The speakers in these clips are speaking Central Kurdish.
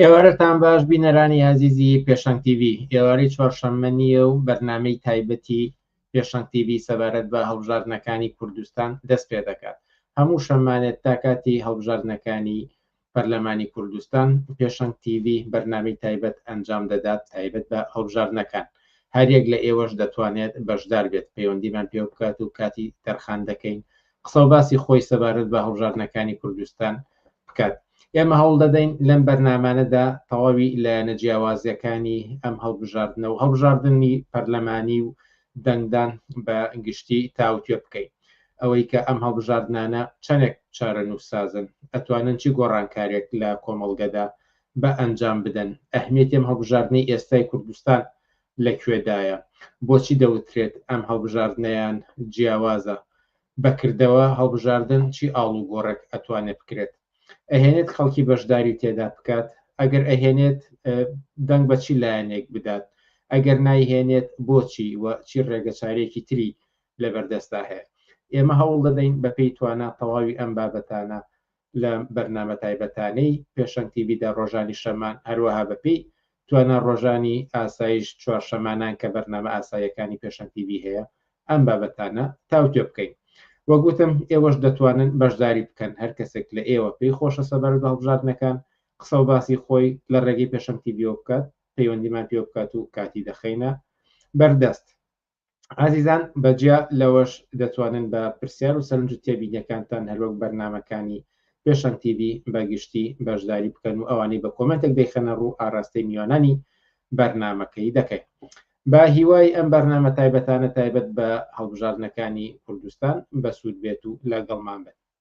ئێوارەتان باش بینەرانی ئازیزی پێشەنگ TV ئێوارەی چوارشەممە نییە و بەرنمەی تایبەتی پێشەنگ TV سەبارەت بە هەڵبژاردنەکانی کوردستان دەست پێ دەکات هەموو شەمانێت تا کاتی هەڵبژاردنەکانی پەرلەمانی کوردستان پێشەنگ تیڤی بەرنامەی تایبەت ئەنجام دەدات تایبەت بە هەڵبژاردنەکان، هەریەک لە ئێوەش دەتوانێت بەشدار بێت پەیوەندیمان پێبکات و کاتی تەرخان دەکەین قسەو باسی خۆی سەبارەت بە هەڵبژاردنەکانی کوردستان بکات. ئێمە هەوڵدەدەین لەم بەرنامانەدا تەواوی لایەنە جیاوازەکانی ئەم هەڵبژاردنە و هەڵبژاردنی پەرلەمانی و دەنگدان بە گشتی تاوتوێ بکەین. ئەوەی کە ئەم هەڵبژاردنانە چەنێک چارەنووسسازن، ئەتوانن چ گۆڕانکارێک لە کۆمەڵگەدا بە ئەنجام بدەن، ئەهمیەتی ئەم هەڵبژاردنەی ئێستای کوردستان لە کوێدایە، بۆچی دەوترێت ئەم هەڵبژاردنەیان جیاوازە، بە کردەوە هەڵبژاردن چی ئاڵوگۆڕێک ئەتوانێت بکرێت؟ ئەهێنێت خەڵکی بەشداری تێدا بکات ئەگەر ئەهێنێت دەنگ بە چی لایەنێک بدات ئەگەر نایهێنێت بۆچی و چی ڕێگە چارێکی تری لەبەردەستا هەیە ئێمە هەوڵ دەدەین بە پێی توانە تەواوی ئەم بابەتانە لە بەرنامە تایبەتانەی پێشەنگ تیبیدا ڕۆژانی شەمان هەروەها بەپی توانا ڕۆژانی ئاسایش چوار شەمانان کە بەرنامە ئاساییەکانی پێشەنگ تی ڤی هەیە ئەم بابەتانە تاوتوێ بکەین. وەک وتم ئێوەش دەتوانن بەشداری بکەن هەر کەسێک لە ئێوە پێی خۆشە سەبارەت بە هەڵبژاردنەکان قسە و باسی خۆی لە ڕێگەی پێشەنگ تی ڤیەوە بکات پەیوەندیمان پێوە بکات و کاتی دەخەینە بەردەست. ئازیزان بەجیا لەوەش دەتوانن بە پرسیار و سەرنج و تێبینیەکانتان هەروەک بەرنمەکانی پێشەن TV بەگشتی بەشداری بکەن و ئەوانەی بە کۆمنتێک دەیخەنە ڕوو ئاراستەی میوانانی بەرنمەکەی دەکەین بە هیوای ئەم بەرنامە تایبەتانە تایبەت بە هەڵبژاردنەکانی کوردستان بەسوود بێت و لەگەڵمان بێت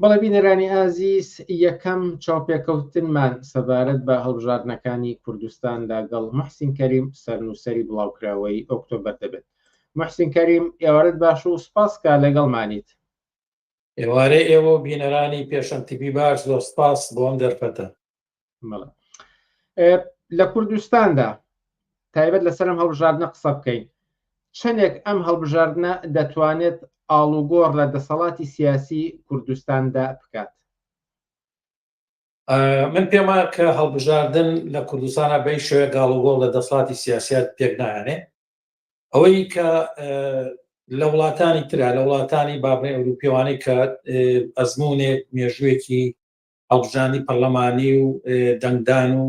بەڵێ بینەرانی ئازیز یەکەم چاوپێکەوتنمان سەبارەت بە هەڵبژاردنەکانی کوردستان لەگەڵ محسین کەریم سەرنووسری بڵاوکراوەی ئۆکتۆبەر دەبێت محسین کەریم ئێوارت باش و سپاس کا لەگەڵمانیت ئێوارەی ئێوە و بینەرانی پێشەنگ تیڤی باش زۆر سپاس بۆ ئەم دەرفەتە لە کوردستاندا تایبەت لەسەرم هەڵبژاردنە قسە بکەین چەندێک ئەم هەڵبژاردنە دەتوانێت ئاڵوگۆڕ لە دەسەڵاتی سیاسی کوردستاندا بکات من پێما کە هەڵبژاردن لە کوردستانە بەی شوێ گاڵوگۆڵ لە دەسڵاتی سیاسیات پێک نایانێ ئەوەی کە لە وڵاتانی تررا لە وڵاتانی بابنەی ئەوروپیوانەی کە ئەزمونێک مێژوویەکی هەڵبژاندنی پەرلەمانی و دەنگدان و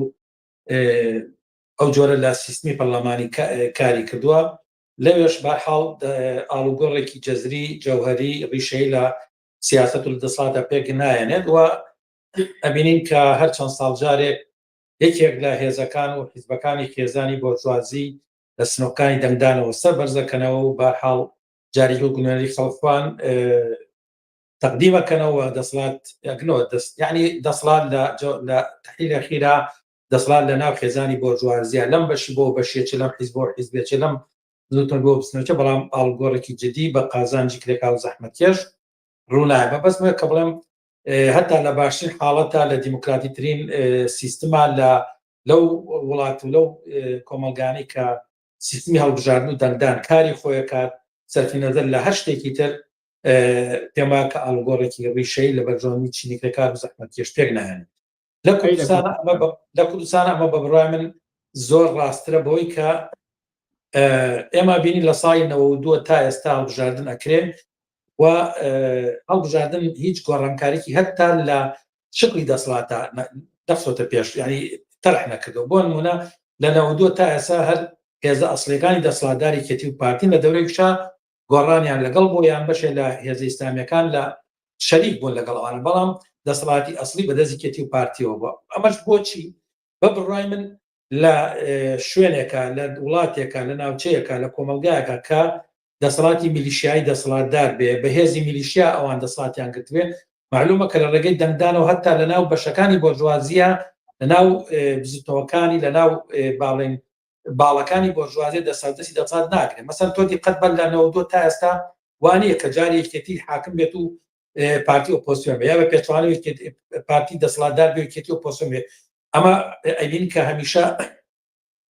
ئەو جۆرە لە سیستمی پەرلەمانی کاری کردووە لەوێش بەحاڵ ئاڵوگۆڕێکی جەزری جەوهری ڕیشەی لە سیاست و دەسڵاتە پێک نایەنێت و ئەبینین کە هەر چەند ساڵ جارێک یەکێک لە هێزەکان و حیزبەکانی خێزانی بۆرجوازی لە سنۆکانی دەنگدانەوە سەر بەرزەکەنەوە و بارحاڵ جاری و گونەری خەڵخوان تەقدیمە کەنەوە دەسڵات یاکنەوە دەست یعنی دەسڵات لە تحلیلە خیرا دەسڵات لە ناو خێزانی بۆرجوازیە لەم بەشی بۆ بەشێچ لەم حیز بۆ حیزبێچ لەم زوتن بۆ بستنەوەچە بەڵام ئاڵگۆڕێکی جدی بە قازانجی کرێکا و زەحمەتکێش ڕوونای بە بەسمە کە بڵێم هەتا لە باشترین حاڵەتە لە دیموکراتی ترین سیستما لە لەو وڵات و لەو کۆمەلگانی کە سیستمی هەڵبژاردن و دەنگدان کاری خۆیەکات سەرفی نەزەر لە هەر شتێکی تر پێمان کە ئالگۆڕێکی ڕیشەی لە بەرژەوەندی چینی کرێکار و زەحمەتکێش پێک نایەن لە کوردستان لە کوردستان ئەمە بە بڕای من زۆر ڕاسترە بەوەی کە ئێمە بینی لە ساڵی نەوە دووە تا ئێستا هەڵبژاردن ئەکرێن و هەڵبژاردن هیچ گۆڕانکارێکی هەتا لە شکلی دەسڵاتە دەخۆتە پێش ینی تەرح نەکردەوە بۆ نمونە لە نەوە دووە تا ئێسا هەر هێزە ئەسلەکانی دەسڵاتداری کەتی و پارتین لە دەورێکشا گۆڕانیان لەگەڵ بوو یان بەشێ لە هێزە ئیسلامیەکان لە شەریک بوون لەگەڵ ئەوان بەڵام دەسەڵاتی ئەسلی بەدەست یەکێتی و پارتیەوە بووە ئەمەش بۆچی بە بڕای من لە شوێنێکە لە وڵاتێکە لە ناوچەیەەکە لە کۆمەلگایەکە کە دەسەڵاتی میلیشیایی دەسەڵاتدار بێ بەهێزی میلیشیا ئەوان دەسڵاتیان گرتوێ معلومە کە لە ڕێگەی دەنگدانەوە هەتا لە ناو بەشەکانی بۆرژوازیە لە ناو بزیتەوەکانی لە ناو باڵێن باڵەکانی بۆرژوازیە دەستاودەستی دەسەڵات ناگرێت مەسەن تۆ دیقەت بە لە نەوەد و تا ئێستا وانەیە کە جاری یەکێتی حاکم بێت و پارتی ئۆپۆسیۆن بە یا بە پێچوانەوە پارتی دەسەڵاتدار بێکێتی ئۆپۆسیۆن بێت ئەمە ئەبین کە هەمیشە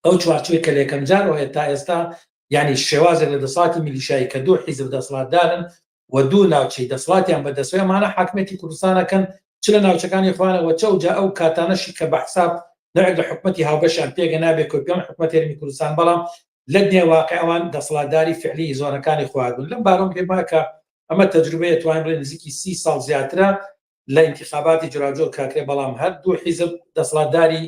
ئەو چوارچوی کە لەکەم جارەوە تا ئێستا ینی شێوازێک لە دەساتی میلیشایی کە دوو حیزب دەسەڵاتدارن و دوو ناوچەی دەسڵاتیان بەدەستە ئەمانە حاکمیەتی کوردستان ئەکەن چ لە ناوچەکانی خۆیانە وە چ ئەوجا ئەو کاتانەشی کە بە حساب نەوێک لە حکومەتی هاوبەشیان پێگە نابێت کە پێیان حکومەت هەرێمی کوردستان بەڵام لە دنیای واقع ئەوان دەسڵاتداری فعلی زۆنەکانی خۆیان بوون لەم بارەوە پێم وایە کە ئەمە تەجروبەیە توانرێت نزیکی سی ساڵ زیاترە لە ئینتیخاباتی جۆراوجۆر کراکرێ بەڵام هەر دوو حیزب دەسڵاتداری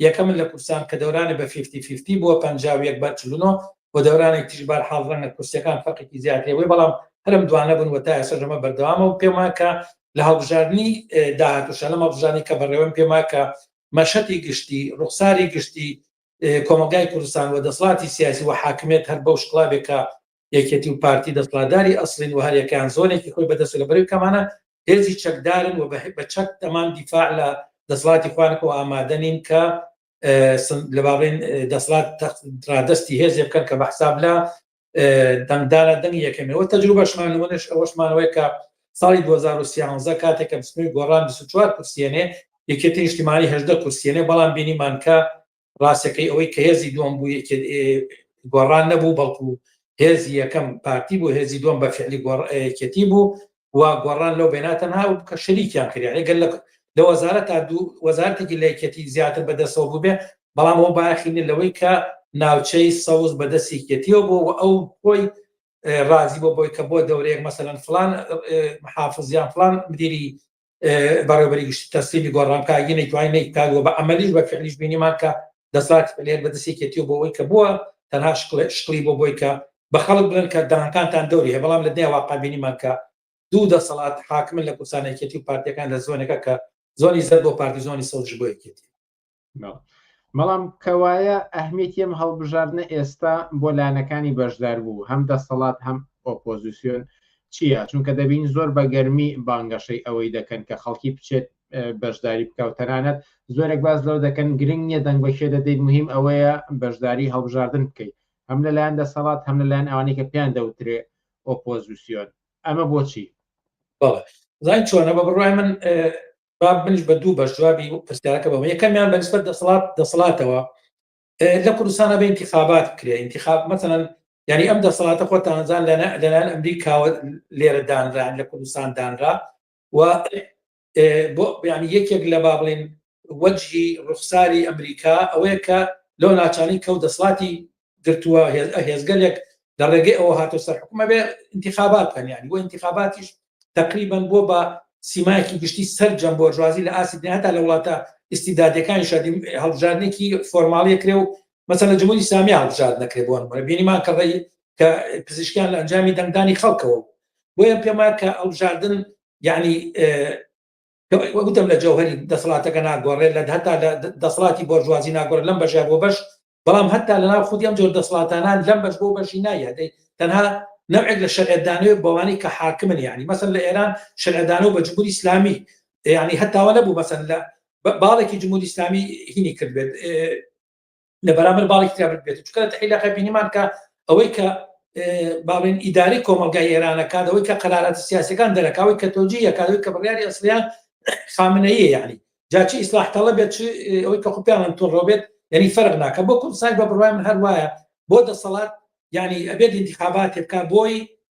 یەکەمن لە کوردستان کە دەورانێ بە فیفتی فیفتی بووە پەنجا و یەک بەر چل و نۆ و دەورانێک تریش بار حاڵ ڕەنگە کورسیەکان فەرقێکی زیاد هەیە بووی بەڵام هەرم دوانە بوون و تا ئێستەش ئەمە بەردەوامە و پێم وایە کە لە هەڵبژاردنی داهاتووشە لەم هەڵبژاردنی کە بەڕێوەم پێم وایە کە مەشەتی گشتی ڕوخساری گشتی کۆمەڵگای کوردستان و دەسڵاتی سیاسی و حاکمیت هەر بەو شکڵاوێکە یەکێتی و پارتی دەسڵاتداری ئەسڵین و هەریەکەیان زۆنێکی خۆی بەدەستە لە بەرەی کەمانە هێزی چەکدارن و بە چەک تەمام دیفاع لە دەسڵاتی خوانەکەەوە ئامادە نین کە لە باڵێن دەسڵات ڕادستی هێزێ بکەن کە بە حساب لە دەنگدانە دەنگ یەکەمەوە تەجروبەشمان لەوەش ئەوەشمانەوەی کە ساڵی 2013 کاتێک کە بسمی گۆڕان 24 کورسیێنێ یەکێتی نیشتیمانی هەدە کورسیێنێ بەڵام بینیمانکە ڕاستەکەی ئەوەی کە هێزی دووەم بوو گۆڕان نەبوو بەڵکو هێزی یەکەم پارتی بوو هێزی دووەم بە فعلی گۆڕەتی بوو و گۆڕان لەو بێناتە ناو کە شەریکیان کردیان گەل لە وەزارە تا دوو وەزارتێکی لەکەتی زیاتر بەدەسەوە بووبێ بەڵام ئەو باخینە لەوەی کە ناوچەی سەوز بەدەستێکەتیەوە بۆ و ئەو خۆی ڕازی بۆ بۆی کە بۆ دەورەیەک مەسەەن فلان محافزیان فلان مدیری بەڕێوبەری گشتی تەسلیمی گۆڕانکاریی نەیتوانی نەیکات و بە عەمەلیش بە فعلیش بینیمان کە دەسەڵاتی پەلێر بەدەست یەکێتی و بۆ ئەوەی کە بووە تەنها شکڵی بۆ بۆی کە بە خەڵک بڵێن کە دانکانتان دەوری هەیە بەڵام لە دنیا واقع بینیمان کە دوو دەسەڵات حاکمن لە کوردستان یەکێتی و پارتیەکان لە زۆنەکە کە زۆنی زەرد بۆ پارتی زۆنی سەوزش بۆ یەکێتی بەڵام کەوایە ئەهمیتی ئەم هەڵبژاردنە ئێستا بۆ لایەنەکانی بەشدار بوو هەم دەسەڵات هەم ئۆپۆزیسیۆن چییە چونکە دەبین زۆر بە گەرمی بانگەشەی ئەوەی دەکەن کە خەڵکی بچێت بەشداری بکە و تەنانەت زۆرێک باز لەو دەکەن گرنگ نیە دەنگ بەشێ دەدەیت مهم ئەوەیە بەشداری هەڵبژاردن بکەیت هەم لەلایەن دەسەڵات هەم لەلایەن ئەوانی کە پێیان دەوترێ ئۆپۆزیسیۆن ئەمە بۆچی زای چۆنە بە بڕای من با منیش بە دوو بەش جوابی پرسیارەکە بەم یەکەمیان بەنسبەت دەسەڵات دەسەڵاتەوە لە کوردستانە بە انتخابات بکرێ انتخاب مثلەن یعنی ئەم دەسەڵاتە خۆ تانزان لەلایەن ئەمریکاوە لێرە دانران لە کوردستان دانرا و بۆ بیانی یەکێک لە با بڵین وەجهی ڕوخساری ئەمریکا ئەوەیە کە لەو ناچانی کەوت دەسڵاتی گرتووە هێزگەلێک لە ڕێگەی ئەوە هاتۆ سەر حکومە بێ انتخابات هەنیانی بۆ انتخاباتیش تقریبان بۆ بە سیمایکی گشتی سەر جەم بۆرژوازی لە ئاسی هەتا لە وڵاتە ئیسیدادەکانی شادی هەڵبژاردنێکی فۆرماڵی کرێ و مەسە لە جمهوری سامی هەڵبژارد نەکرێ بۆن بینیمان کە ڕێی کە پزیشکیان لە ئەنجامی دەنگدانی خەڵکەوە بۆیە پێما کە ئەڵبژاردن یعنی وەگوتم لە جەوهری دەسەڵاتەکە ناگۆڕێت لە هەتا لە دەسەڵاتی بۆرجوازی ناگۆڕ لەم بەژار بۆ بەش بەڵام هەتا لەناو خودی ئەم جۆر دەسەڵاتانان لەم بەش بۆ بەشی نایەدەی تەنها نەوێک لە شەرعدانەوە بەوانی کە حاکمن یعنی مەسن لە ئێران شەرعدانەوە بە جمهوری ئسلامی یعنی هەتاوە نەبوو مەسن لە باڵێکی جمهوری ئسلامی هینی کرد بێت لە بەرامبەر باڵێکی تیا بێت چکە لە تەحی لەقە بینیمان کە ئەوەی کە باڵێن ئیداری کۆمەلگای ئێرانەکات ئەوەی کە قەرارەتی سیاسەکان دەرەکەوەی کە تۆجی یەکاتەوەی کە بڕیاری ئەسلیان خامنەیە یعنی جاچی ئیسلاح تەڵە بێت ئەوەی کە خوپیانان تۆڕۆ بێت یعنی فەرق ناکە بۆ کوردستان بە بڕوای من هەر وایە بۆ دەسەڵات یعنی ئەبێت انتخابات بکە بۆی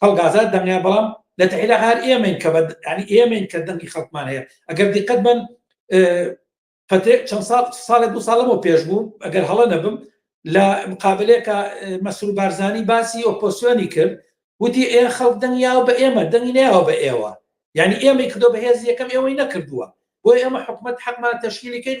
خەڵک ئازاد دەنگیان بەڵام لە تەحی لە هەر ئێمەین کە بە ینی ئێمەین کە دەنگی خەڵکمان هەیە ئەگەر دیقەت بن پەتێ چەند ساڵ ساڵێ دو ساڵەوە پێش بوو ئەگەر هەڵە نەبم لە مقابلێکە مەسرور بارزانانی باسی ئۆپۆسیۆنی کرد وتی ئێ خەڵک دەنگیاوە بە ئێمە دەنگی ناوە بە ئێوە یعنی ئێمەی کردۆ بەهێز یەکەم ئێوەی نەکردووە بۆی ئەمە حکومت حەقمان تەشکیلیکەین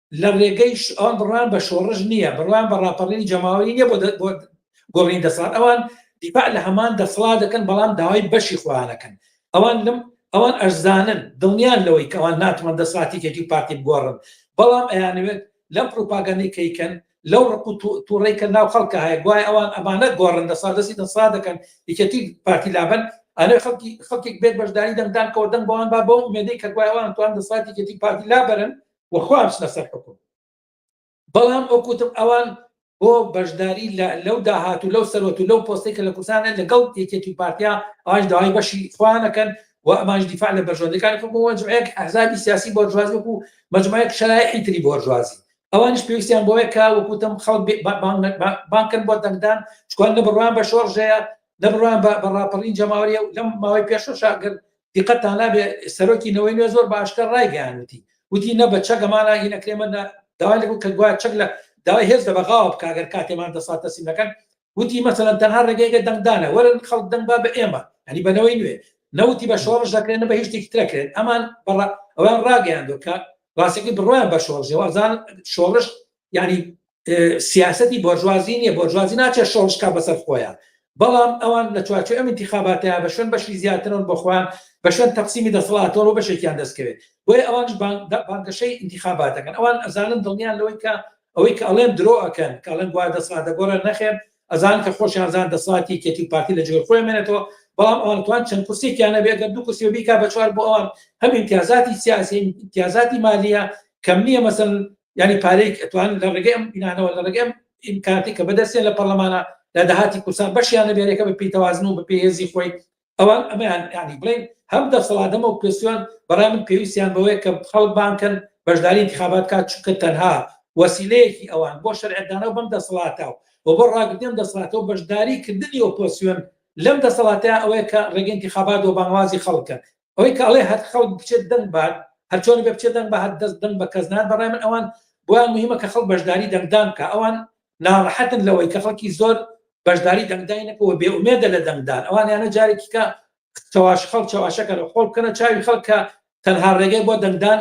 لە ڕێگەی ئەوان بڕوان بە شۆڕش نییە بڕوان بە ڕاپەڕینی جەماوەری نیە بۆ گۆڕین دەسەڵات ئەوان دیپا لە هەمان دەسەڵات دەکەن بەڵام داوای بەشی خۆیانەکەن ئەوان لەم ئەوان ئەرزانن دڵنیان لەوەی کەوان ناتوان دەساتیکێکی پارتی بگۆڕن بەڵام ئەیانوێت لەم پروپاگەنی کەیکەن لەو ڕق و تووڕی کە ناو خەڵکە هەیە گوای ئەوان ئەمانە گۆڕن دەسا دەستی دەسا دەکەن یەکەتی پارتی لابن ئەێ خەڵکی خەڵکێک بێت بەشداری دەنگدان کەەوە دەنگ بەوان با بۆ مێدەی کە گوایوان توان دەساتیکێتی پارتی لابرن و خۆیان بچنە سەر حکوم بەڵام ئەوکوتم ئەوان بۆ بەشداری لەو داهات و لەو سەرۆت و لەو پۆستی کە لە کوردستانە لەگەڵ یەکێتی پارتیا ئەوانش داوای بەشی خوانەکەن و ئەمانش دیفاع لە بەرژەوەندەکانی خۆ مەجموعەیەک ئەحزابی سیاسی بۆرژوازی وەکو مەجموعەیەک شەرایحی تری بۆرژوازی ئەوانش پێویستیان بۆیە کە وەکوتم خەڵک بانکن بۆ دەنگدان چکوان نە بڕوان بە شۆڕژەیە نە بڕوان بە ڕاپەڕین جەماوەریە لەم ماوەی پێشەشاگەر دیقەتتان نابێ سەرۆکی نەوەی نوێ زۆر باشتر ڕایگەیاند وتی وتی نە بە چەک ئەمان ڕاگیر نەکرێ مە داوای لێ بوو کە گوایە چەک لە داوای هێز لە بەغاوە بکا گەر کاتێمان دەسات تەسلیم نەکەن وتی مەسەلەن تەنها ڕێگەیەکە دەنگدانە وەرن خەڵک دەنگ با بە ئێمە هەنی بە نەوەی نوێ نەوتی بە شۆڕش دەکرێن نە بە هیچ شتێکی ترەکرێن ئەمان بەڕ ئەوان ڕاگەیاندوە کە ڕاستەکەی بڕوایان بە شۆڕژەوە ئەزان شۆڕش یعنی سیاستی بۆرژوازی نیە بۆرژوازی ناچێت شۆڵشکا بەسەر خۆیە بەڵام ئەوان لە چوارچێ ئەم انتخاباتەیە بە شوێن بەشی زیاترەوە بەخۆیان بە شوێن تەقسیمی دەسەڵاتەوە بەشێکیان دەستکەوێت بۆی ئەوانش بانگەشەی انتخاباتەکەن ئەوان ئەزانن دڵنیان لەوەی کە ئەوەی کە ئەڵێن درۆ ئەکەن کاڵێن گووا دەسەڵاتە گۆڕێن نەخێن ئەزانن کە خۆشیان زان دەسەڵاتی یەکێتی و پارتی لە جگەر خۆیان مێنێتەوە، بەڵام ئەوان توان چەند کورسیەکیان هەبێ گەر دوو کورسی بەبی کا بەچوار بۆ ئەوان هەم ئیمتیازاتی سیاسی هەم ئیمتیازاتی مالیە کەم نیە مەسەلەن یانی پارەیەک ئەتوان لە ڕێگەی ئەم بینانەوە لە ڕێگەی ئەم ئیمکاناتی کە بەدەستیان لە پەڕلەمانە لە داهاتی کورسان بەشیان نەبێ یەکە بە پێی تەوازن و بە پێی هێزی خۆی ئەوان ئەمەیان یانی بڵێن هەم دەسەڵاتەمە و پێسیۆن بەڕای من پێویستیان بەوەیە کە خەڵک بانکەن بەشداری انتخابات کات چونکە تەنها وەسیلەیەکی ئەوان بۆ شەرعدانەوە بەم دەسەڵاتە و بۆ ڕاگرتن دەسەڵاتەوە بەشداری کردنی ئۆپۆسیۆن لەم دەسەڵاتە ئەوەیە کە ڕێگە انتخابات و بانوازی خەڵکە ئەوەی کە ئەڵێ هەر خەڵک بچێت دەنگ بات هەرچۆنی بە بچێت دەنگ بە هەر دەست دەنگ بە کەس نان بەڕای من ئەوان بۆیان مهمە کە خەڵک بەشداری دەنگدان کە ئەوان ناڕەحەتن لەوەی کە خەڵکی زۆر بەشداری دەنگدای نەکە و بێ ئومێدە لە دەنگدان ئەوانیانە جارێکی کە چواش خەڵ چواشەکە لە خۆڵ بکەنە چاوی خەڵکە تەنها ڕێگەی بۆ دەنگدان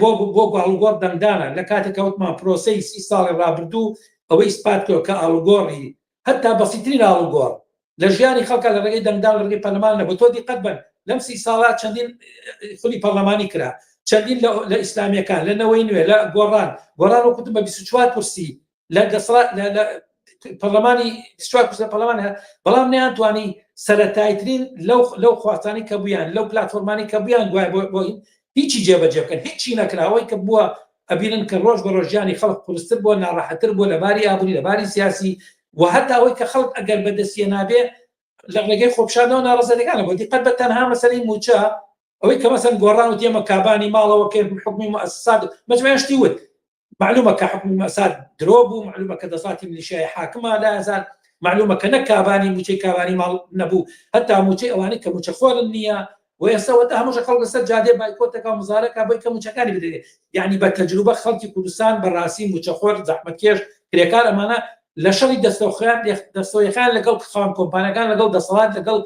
بۆ بۆ گوڵگۆڕ دەنگدانە لە کاتێک کەوتمان پرۆسی سی ساڵی ڕابردوو ئەوەی سپات کرد کە ئاڵگۆڕی هەتا بەسیترین ئاڵگۆڕ لە ژیانی خەڵکە لە ڕێگەی دەنگدان لە ڕێگەی پەرلەمان نەبوو تۆ دیقەت بن لەم سی ساڵا چەندین خولی پەرلەمانی کرا چەندین لە ئیسلامیەکان لە نەوەی نوێ لە گۆڕان گۆڕان و کوتم بە 24 کورسی لە گەسرا لە پەرلەمانی لە پەرلەمان بەڵام نیان توانی سەتایترین لەو لەو خواتانی کە بوویان لەو پلتفۆرمانی کە بوویان دوای بۆ بۆین هیچی جێبەجێ بکەن هیچی نەکراوەی کە بووە ئەبینن کە ڕۆژ بە ڕۆژ ژیانی خەڵک قورستر بووە ناڕەحەتتر بووە لە باری ئابووری لە باری سیاسی و هەتا ئەوەی کە خەڵک ئەگەر بەدەستیە نابێ لە ڕێگەی خۆپشاندەوە ناڕزەکانە بۆ دیقەت بە تەنها مەسەری موچە ئەوەی کە مەسەن گۆڕان و تێمە کابانی ماڵەوە کە حکومی مؤسسات مەجموعە شتی وت معلومە کە حکومی مؤسسات درۆ بوو معلومە کە دەساتی ملیشای حاکمە لە هزار معلومە کە نە کابانی موچەی کابانی ماڵ نەبوو هەتا موچەی ئەوانی کە موچەخۆرن نییە و ئێستا وەتا هەمووشە خەڵک لەسەر جادێ بایکۆت دەکا و مزارە کا بۆی کە موچەکانی بدرێ یعنی بە تەجروبە خەڵکی کوردستان بە ڕاستی موچەخۆر زەحمەتکێش کرێکار ئەمانە لە شەڕی دەستەوخیان دەستەوەیەکان لەگەڵ خان کۆمپانەکان لەگەڵ دەسەڵات لەگەڵ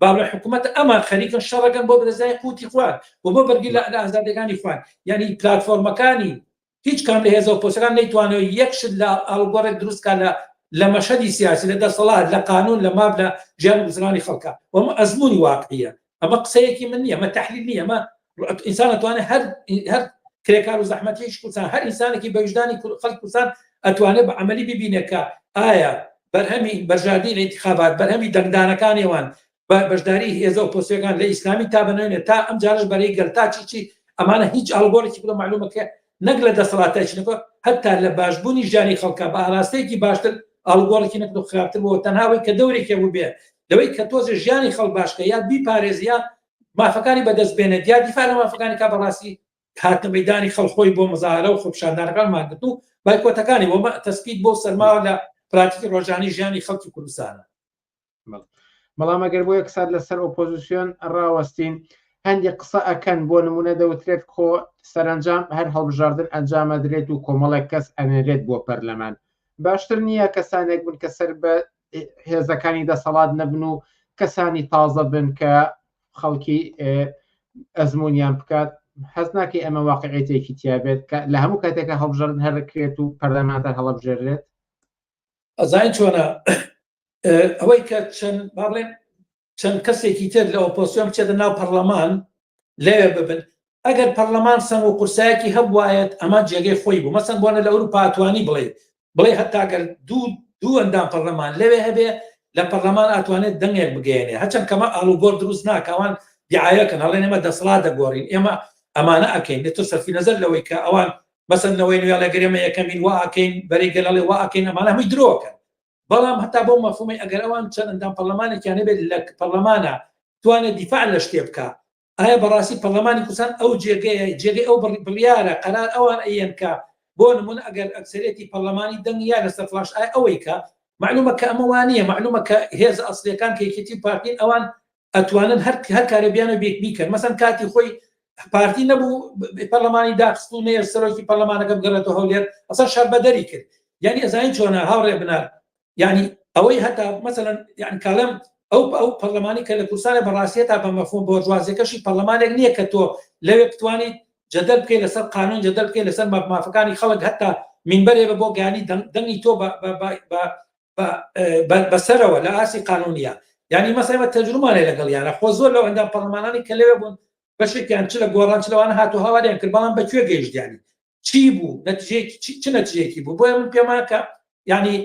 باڵە حکوومەت ئەمان خەریکن شەڕەکەن بۆ درێزای قوتی خوارد و بۆ بەرگی لە ئازادەکانی خوارد یعنی پلتفۆرمەکانی هیچ کام لە هێزە ئۆپۆزسیۆنەکان نەیتوانیوە یەک شت لە ئاڵوگۆڕێک دروست بکات لە لە مەشهەدی سیاسی لە دەسەڵات لە قانون لە ماف لە ژیان و گوزەرانی خەڵکە و ئەمە ئەزموونی واقعیە ئەمە قسەیەکی من نییە ئەمە تحلیل نییە ئەمە ئینسان ئەتوانێت هەر هەر کرێکار و زەحمەتیش کوردستان هەر ئینسانێکی بە ویژدانی کور- خەڵک کوردستان ئەتوانێت بە عملی ببینێت کە ئایا بەرهەمی بەرژاردی لە انتخابات بەرهەمی دەنگدانەکانێوان بە بەشداری هێزە و پۆسیەکان لە ئیسلامی تا بەنوێنێ تا ئەم جارش بەرەی گەل تا چی چی ئەمانە هیچ ئاڵگۆرێکی بڵە معلومەکە نەک لە دەسەڵاتایش نەکە هەتا لە باشبوونی ژیانی خەڵکە بە ئاراستەیەکی باشتر ئاڵگۆڕێکی نەکرد خراپتر بۆ تەناوەی کە دەورێکی بوو بێ لەوەی کە تۆزە ژیانی خەڵ باشکە یا بی پارێزیە مافەکانی بەدەست بێنێت یا دیفاع لە مافەکانی کا بەڕاستی هاتە مەدانی خەڵخۆی بۆ مزارە و خۆپشاندانەکان ماگرت و بایکۆتەکانی بۆ تەسپیت بۆ سەرماوە لە پراتیکی ڕۆژانی ژیانی خەڵکی کوردستانە بەڵام ئەگەر بۆ یەک سات لەسەر ئۆپۆزیسیۆن ڕاوەستین هەندی قسە ئەکەن بۆ نمونە دەوترێت کۆ سەرنجام هەر هەڵبژاردن ئەنجامەدرێت و کۆمەڵێک کەس ئەنێرێت بۆ پەرلەمان باشتر نییە کەسانێک بن کە سەر بە هێزەکانی دەسەڵات نەبن و کەسانی تازە بن کە خەڵکی ئەزمونیان بکات حەز ناکەی ئەمە واقعێتێکی تیابێت کە لە هەموو کاتێکە هەڵبژارن هەرکرێت و پەرلەمانتان هەڵبژێرێت ئەزای چۆنە ئەوەی کە چەند با بڵێن چەند کەسێکی تر لە ئۆپۆسیۆن بچێتە ناو پەرلەمان لەوێ ببن ئەگەر پەرلەمان سەنگ و قورسایەکی هەبواەت ئەمە جێگەی خۆی بوو مەسەن بۆنە لە ئەوروپا توانی بڵێ بڵێ هەتاگەر دوو دوو ئەندام پەرلەمان لەوێ هەبێ لە پەرلەمان ئەتوانێت دەنگێک بگەێنێ هەچەند کەمە ئالوگۆر دروست ناکەوان دیعاەکەن هەڵێن ئێمە دەسڵا دەگۆڕین ئێمە ئەمانە ئەکەین لە تۆ سەرفی نظر لەوەی کە ئەوان مەسەنەوەی نوێڵێگەرێمە یەکەمین واکەین بەری گەلڵێ واکەین ئەمانە هەمووی درۆکەن بەڵام هەتا بۆ مەفهومی ئەگەر ئەوان چەند ئەندام پەرلەمانێکیان هەبێت لە پەرلەمانە توانێت دیفاع لە شتێ بکە ئایا بەڕاستی پەرلەمانی کوردستان ئەو جێگەیە جێگەی ئەو بڕی بڕیارە قەرار ئەوان ئەیەن کە بۆ نمونە ئەگەر ئەکسەرێتی پەرلەمانی دەنگیا لەسەر فلاش ئای ئەوەی کە معلومە کە ئەمەوانە معلومە کە هێز ئەسلەکان کە یەکێتی پارتین ئەوان ئەتوانن هەر هەر کارێ بیانە بێ بیکەن مەسەن کاتی خۆی پارتی نەبوو پەرلەمانی داخست و نێر سەرۆکی پەرلەمانەکە بگەڕێتەوە هەولێر ئەسا شەربەدەری کرد یعنی ئەزانین چۆنە هاوڕێ بنار یعنی ئەوەی هەتا مەسەن یان کاڵم ئەو ئەو پەرلەمانی کە لە کورسانە بەڕاستە تا بە مەفۆن بۆرجوازەکەشی پەرلەمانێک نییە کە تۆ لەوێ بتوانیت جەدەل بکەی لەسەر قانون جەدەل بکەی لەسەر مافەکانی خەڵک هەتا منبەرێ بە بۆ گانی دەنگی تۆ بەسەرەوە لە ئاسی قانونە ینی مەسەمە تەجرومانێ لەگەڵ یانە خۆ زۆر لەو ئەندام پەرلەمانانی کە لەوێ بوون بەشێکیان چ لە گۆڕان چ لەوان هاتو هاواریان کرد بەڵام بەکوێ گەیشتیانی چی بوو نەتیجەیەکی چ نەتیجەیەکی بوو بۆیە من پێماکە ینی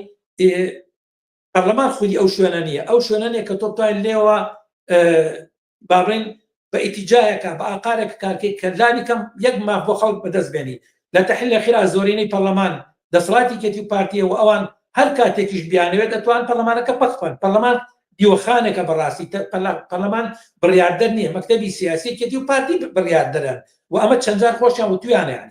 پەرلەمان خودی ئەو شوێنە نیە ئەو شوێنە نیە کە تۆ بتوانین لێوە با بڵێین بە ئیتیجاهێکا بە ئاقارێک کارکەی کە لانی کەم یەک ماف بۆ خەڵک بەدەست بێنی لە تەحلیل ئەخیرا زۆرینەی پەرلەمان دەسەڵاتی کێتی و پارتیە و ئەوان هەر کاتێکیش بیانەوێت دەتوان پەرلەمانەکە پەک بکەن پەرلەمان دیوەخانێکە بەڕاستی تە- پەرلە- پەرلەمان بڕیاردەر نییە مەکتەبی سیاسی کێتی و پارتی بڕیاردەرن و ئەمە چەندجار خۆشیان وتویانیان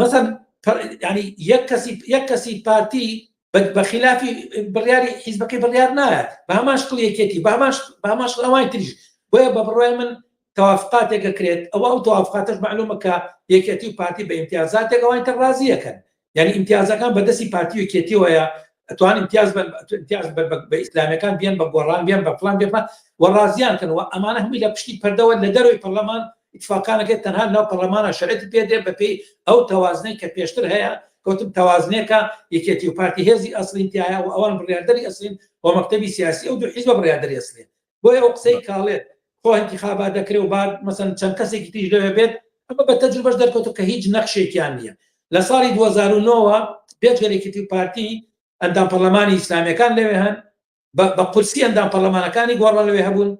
مەسەن ینی یەک کەسی یەک کەسی پارتی بەخلافی بڕیاری حیزبەکەی بڕیار نایە بە هەمان شکڵ یەکێتی باماش باماش ئەوان تریش بۆیە بە بڕای من توافقاتێکە کرێت ئەوە ئەو توافقاتش معلومەکە یەکێتی و پارتی بە امتیازاتێک ئەوان تر ڕازیەکەن یعنی امتیازەکان بەدەستی پارتی وکێتیەوەیە ئەتوان امتیاز امتیاز بە ئیسلامەکان بیان بە گۆڕان بیان بە فلان بێ و ڕازیان کەن و ئەمانە هەمووی لە پشتی پەردەوە لە دەروی پەرلەمان ئیتفاقانەکەی تەنها لەناو پەڕلەمانا شەرعیەتی پێ دێ بە پێی ئەو تەوازنەی کە پێشتر هەیە، کەوتم تەوازنێکە یەکێتی و پارتی هێزی ئەسڵین تیایە و ئەوان بڕیاردەری ئەسڵین و مەکتەبی سیاسی ئەو دوو حیزبە بڕیاردەری ئەسڵین. بۆیە ئەو قسەی کە ئەڵێت خۆ ئینتیخابات دەکرێ و با مەسەن چەند کەسێکی تریش لەوێ بێت، ئەمە بە تەجروبەش دەرکەوتووە کە هیچ نەخشێکیان نییە. لە ساڵی دوو هەزار و نۆ وە بێجگەل یەکێتی و پارتی، ئەندام پەڕلەمانی ئیسلامییەکان لەوێ هەن، بە قورسی ئەندام پەڕلەمانەکانی گۆڕان لەوێ هەبوون،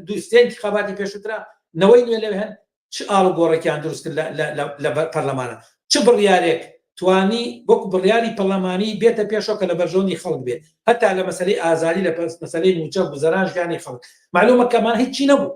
دووستێنکی خەباتی پێشوترا نەوەی نوێ لەوێ هەن چ ئاڵ گۆڕێکیان دروست کرد لە پەرلەمانە چ بڕیارێک توانی وەک بڕیاری پەرلەمانی بێتە پێشەوە کە لە بەرژەوەندی خەڵک بێت هەتا لە مەسلەی ئازاری لە پرس مەسلەی موچە گوزەران ژیانی خەڵک معلومە کەمان هیچی نەبوو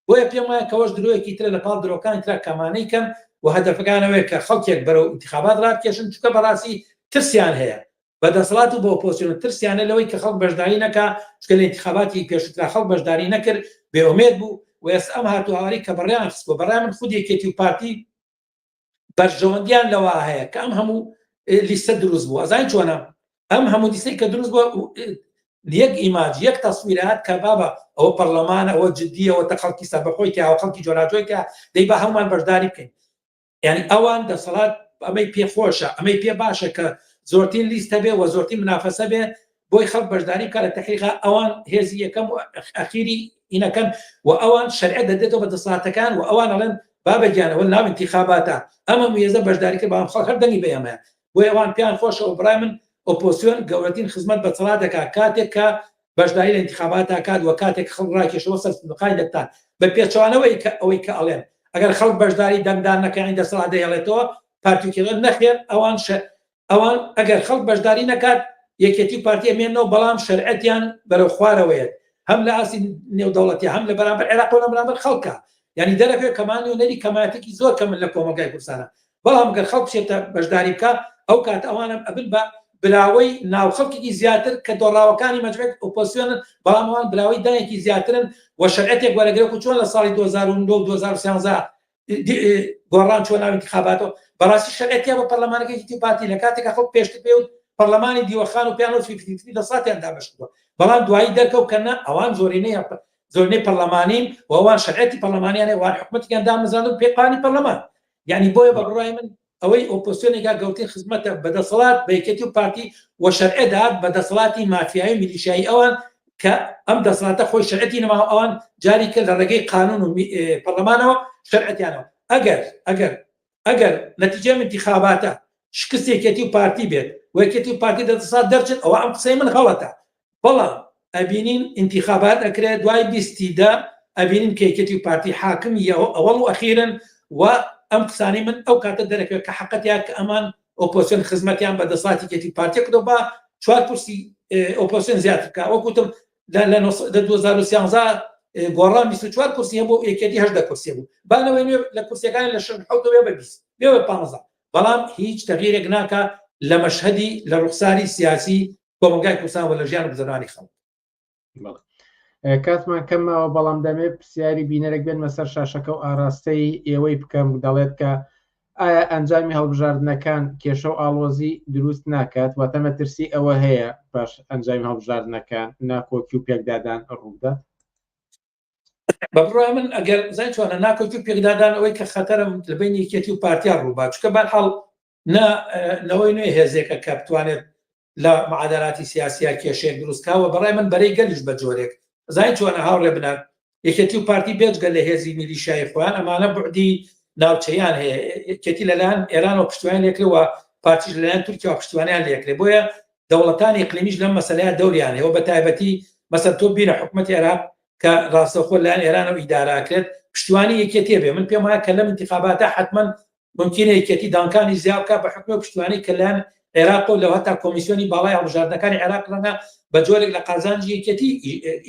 بۆیە پێم وایە کەوەش درۆیەکی ترە لە پاڵ درۆکانی ترا کەمانەی کەن و هەدەفەکان ئەوەیە کە خەڵکێک بەرەو ئینتخابات رابکێشن چونکە بەڕاستی ترسیان هەیە بە دەسەڵات و بە ئۆپۆسیۆن ترسیانە لەوەی کە خەڵک بەشداری نەکا چونکە لە ئینتخاباتی پێشووترا خەڵک بەشداری نەکرد بێئومێد بوو و ئێستا ئەم هاتوهەواری کە بەڕێیان خستووە بەڕای من خود یەکێتی و پارتی بەرژەوەندیان لەوە هەیە کە ئەم هەموو لیستە دروست بووە زای چۆنە ئەم هەموو دیسەی کە دروست بووە یەک ئیماج یەک تەسویرات کە بابە ئەوە پەرلەمانە ئەوە جددیەوە تە خەڵکی سەربەخۆی کە ئەو خەڵکی جۆراجۆیکە دەی بە هەڵمان بەشداری بکەین یعنی ئەوان دەسەڵات ئەمەی پێخۆشە ئەمەی پێ باشە کە زۆرترین لیستە بێ وە زۆرتی منافەسە بێ بۆی خەڵک بەشداری بکە لە تحقیقا ئەوان هێزی یەکەم و ئەخیری ئینەکەن و ئەوان شەرعە دەدێتەوە بە دەساتەکان و ئەوان ئەڵێن بابە گیانەوە ناو انتخاباتە ئەمە موێزە بەشداری کرد بەڵام خەڵک هەر دەنگی بەیەمە بۆ ئەوان پێیان خۆشەوە برای من ئۆپۆسیۆن گەورەترین خزمەت بە چڕا دەکات کاتێک کە بەشداری لە انتخابات داکات وە کاتێک خەڵ ڕاکێشەوە سەر سندوقانی دەتان بە پێچوانەوەی کە ئەوەی کە ئەڵێن ئەگەر خەڵک بەشداری دەنگدان نەکانی دەسەڵات دەهێڵێتەوە پارتیکردن نەخێر ئەوان ئەوا ئەگەر خەڵک بەشداری نەکات یەکێتی و پارتی ئەمێنەوە بەڵام شەرعەتیان بەرەو خوارەوەیەت هەم لە ئاستی نێودەوڵەتی هەم لە بەرامبەر عێراق و لە بەرامبەر خەڵکە یعنی دەرەوێ کەمان نوێنەری کەمایەتێکی زۆر کەمن لە کۆمەلگای کوردستانە بەڵام گەر خەڵک بچێتە بەشداری بکە ئەو کات ئەوانم ئەبن بە براوەی ناو خەڵکێکی زیاتر کە دۆڕاوەکانی مەجبێت ئۆپۆسیۆنن بەڵام ئەوان براوەی دایەکی زیاترن و شەرعەتێک وەرەگرێت و چۆن لە ساڵی 2009 2013 گۆڕان چۆ ناوی انتخاباتەوە بەڕاستی شەقێتیا بە پەرلەمانەکەی تی پارتی لە کاتێکە خەڵک پێشتر پێ پەرلەمانی دیوەخان و پیانۆ فیفتی لە ساتیان دابشتووە بەڵام دوایی دەرکەو کەنا ئەوان زۆرینەی زۆرنەی پەرلەمانین ووان شەرعەتی پەرلەمانیانە وان حکومەتیان دامەزان و پێقانی پەرلەمان یعنی بۆیە بە بڕای من ئەوەی ئۆپۆسیۆنێکا گەورترین خزمەتە بە دەسەڵات بە یەکێتی و پارتی و شەرعێ دەات بە دەسەڵاتی مافیایی و میلیشیایی ئەوان کە ئەم دەسەڵاتە خۆی شەرعەتی نەما و ئەوان جاری کە لە ڕێگەی قانون و پەرلەمانەوە شەرعەتیانەوە ئەگەر ئەگەر ئەگەر نەتیجەی انتخاباتە شکست یەکێتی و پارتی بێت و یەکێتی و پارتی لە دەسەڵات دەرچن ئەوە ئەم قسەی من غەڵەتە بەڵام ئەبینین ئینتیخابات ئەکرێ دوای بیستی دە ئەبینین کە یەکێتی و پارتی حاکمی یەوە ئەوەڵ و ئەخیرن و ئەم قسانی من ئەو کاتە دەرەکەوێت کە حەقەتیان کە ئەمان ئۆپۆسیۆن خزمەتیان بە دەساتی کێتی پارتی کردو با چوار کورسی ئۆپۆسیۆن زیاتر بکە وەکوتم لە 2013 گۆڕان 24 کورسی هەبوو یەکێتی هەشدە کورسی بوو بانەوەی نوێ لە کورسەکان لە شەن حوتەوە بە بیست بێوە پانزە بەڵام هیچ تەغیرێک ناکە لە مەشهدی لە ڕوخساری سیاسی کۆمەڵگای کوردستان و لە ژیان و گوزەرانی خەڵک کاتمان کەمەوە بەڵام دەمێ پرسیاری بینەرێک بێنمە سەر شاشەکە و ئاراستەی ئێوەی بکەم دەڵێت کە ئایا ئەنجامی هەڵبژاردنەکان کێشە و ئاڵۆزی دروست ناکات واتە مەترسی ئەوە هەیە پاش ئەنجامی هەڵبژاردنەکان ناکۆکی و پێکدادان ڕوودات بەڕای من ئەگەر زای چوانە ناکۆکی و پێکدادان ئەوەی کە خەتەرم لە بین یەکێتی و پارتیان ڕووبات چکە بەرحاڵ نا نەوەی نوێ هێزێکە کە بتوانێت لە معادلاتی سیاسیا کێشێک دروستکەوە بەڕای من بەرەی گەلیش بە جۆرێک زای چۆنە هاوڕێ بنات یەکێتی و پارتی بێجگە لە هێزی میلیشای خۆیان ئەمانە بردی ناوچەیان هەیە یەکێتی لەلایەن ئێران و پشتیان لێکرەوە پارتیش لەلایەن تورکیا و پشتیوانیان لێکرێ بۆیە دەوڵەتانی قلیمیش لەم مەسلەیە دەوریان هەیە بە تایبەتی مەسەر تۆ بیرە حکوومەت عێراق کە ڕاستەخۆ لایەن ئێران و ئیداراکرێت پشتیوانی یەکێتێ بێ من پێم وایە کە لەم انتخاباتە حتمما مومکینە یەکێتی دانکانی زیا بکات بە حوکمی ئەو پشتیوانەی کە لەلایەن عێراقەوە لەو هەتا کۆمیسیۆنی باڵای هەڵبژاردنەکانی عێراق ڕەنگە بە جۆرێک لە قازانجی یەکێتی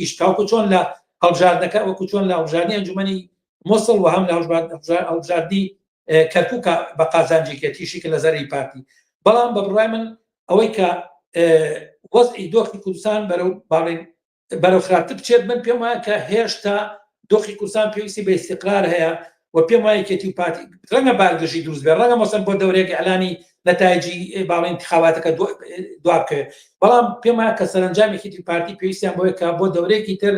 ئیش تاوکو چۆن لە هەڵبژاردنەکە وەکو چۆن لە هەڵبژاردنی ئەنجومەنی مووسڵ و هەم لە هەڵبژاردنی کەرکووکە بە قازانجێکێتیشی کە لە زەرری پارتی بەڵام بە بڕای من ئەوەی کە وەزعی دۆخی کوردستان بەرەو باڵێن بەرەو خراپتر بچێت، من پێم وایە کە هێشتا دۆخی کوردستان پێویستی بە ئیستیقرار هەیە و پێم وایە یەکێتی و پارتی ڕەنگە بارگرژی دروست بێت، ڕەنگە مەسەن بۆ دەورێک ئیعلانی نەتایجی باڵی انتخاباتەکە دو- دوا بکەوێت، بەڵام پێم وایە کە سەرەنجام یەکێتی و پارتی پێویستیان بۆیە کە بۆ دەورێکی تر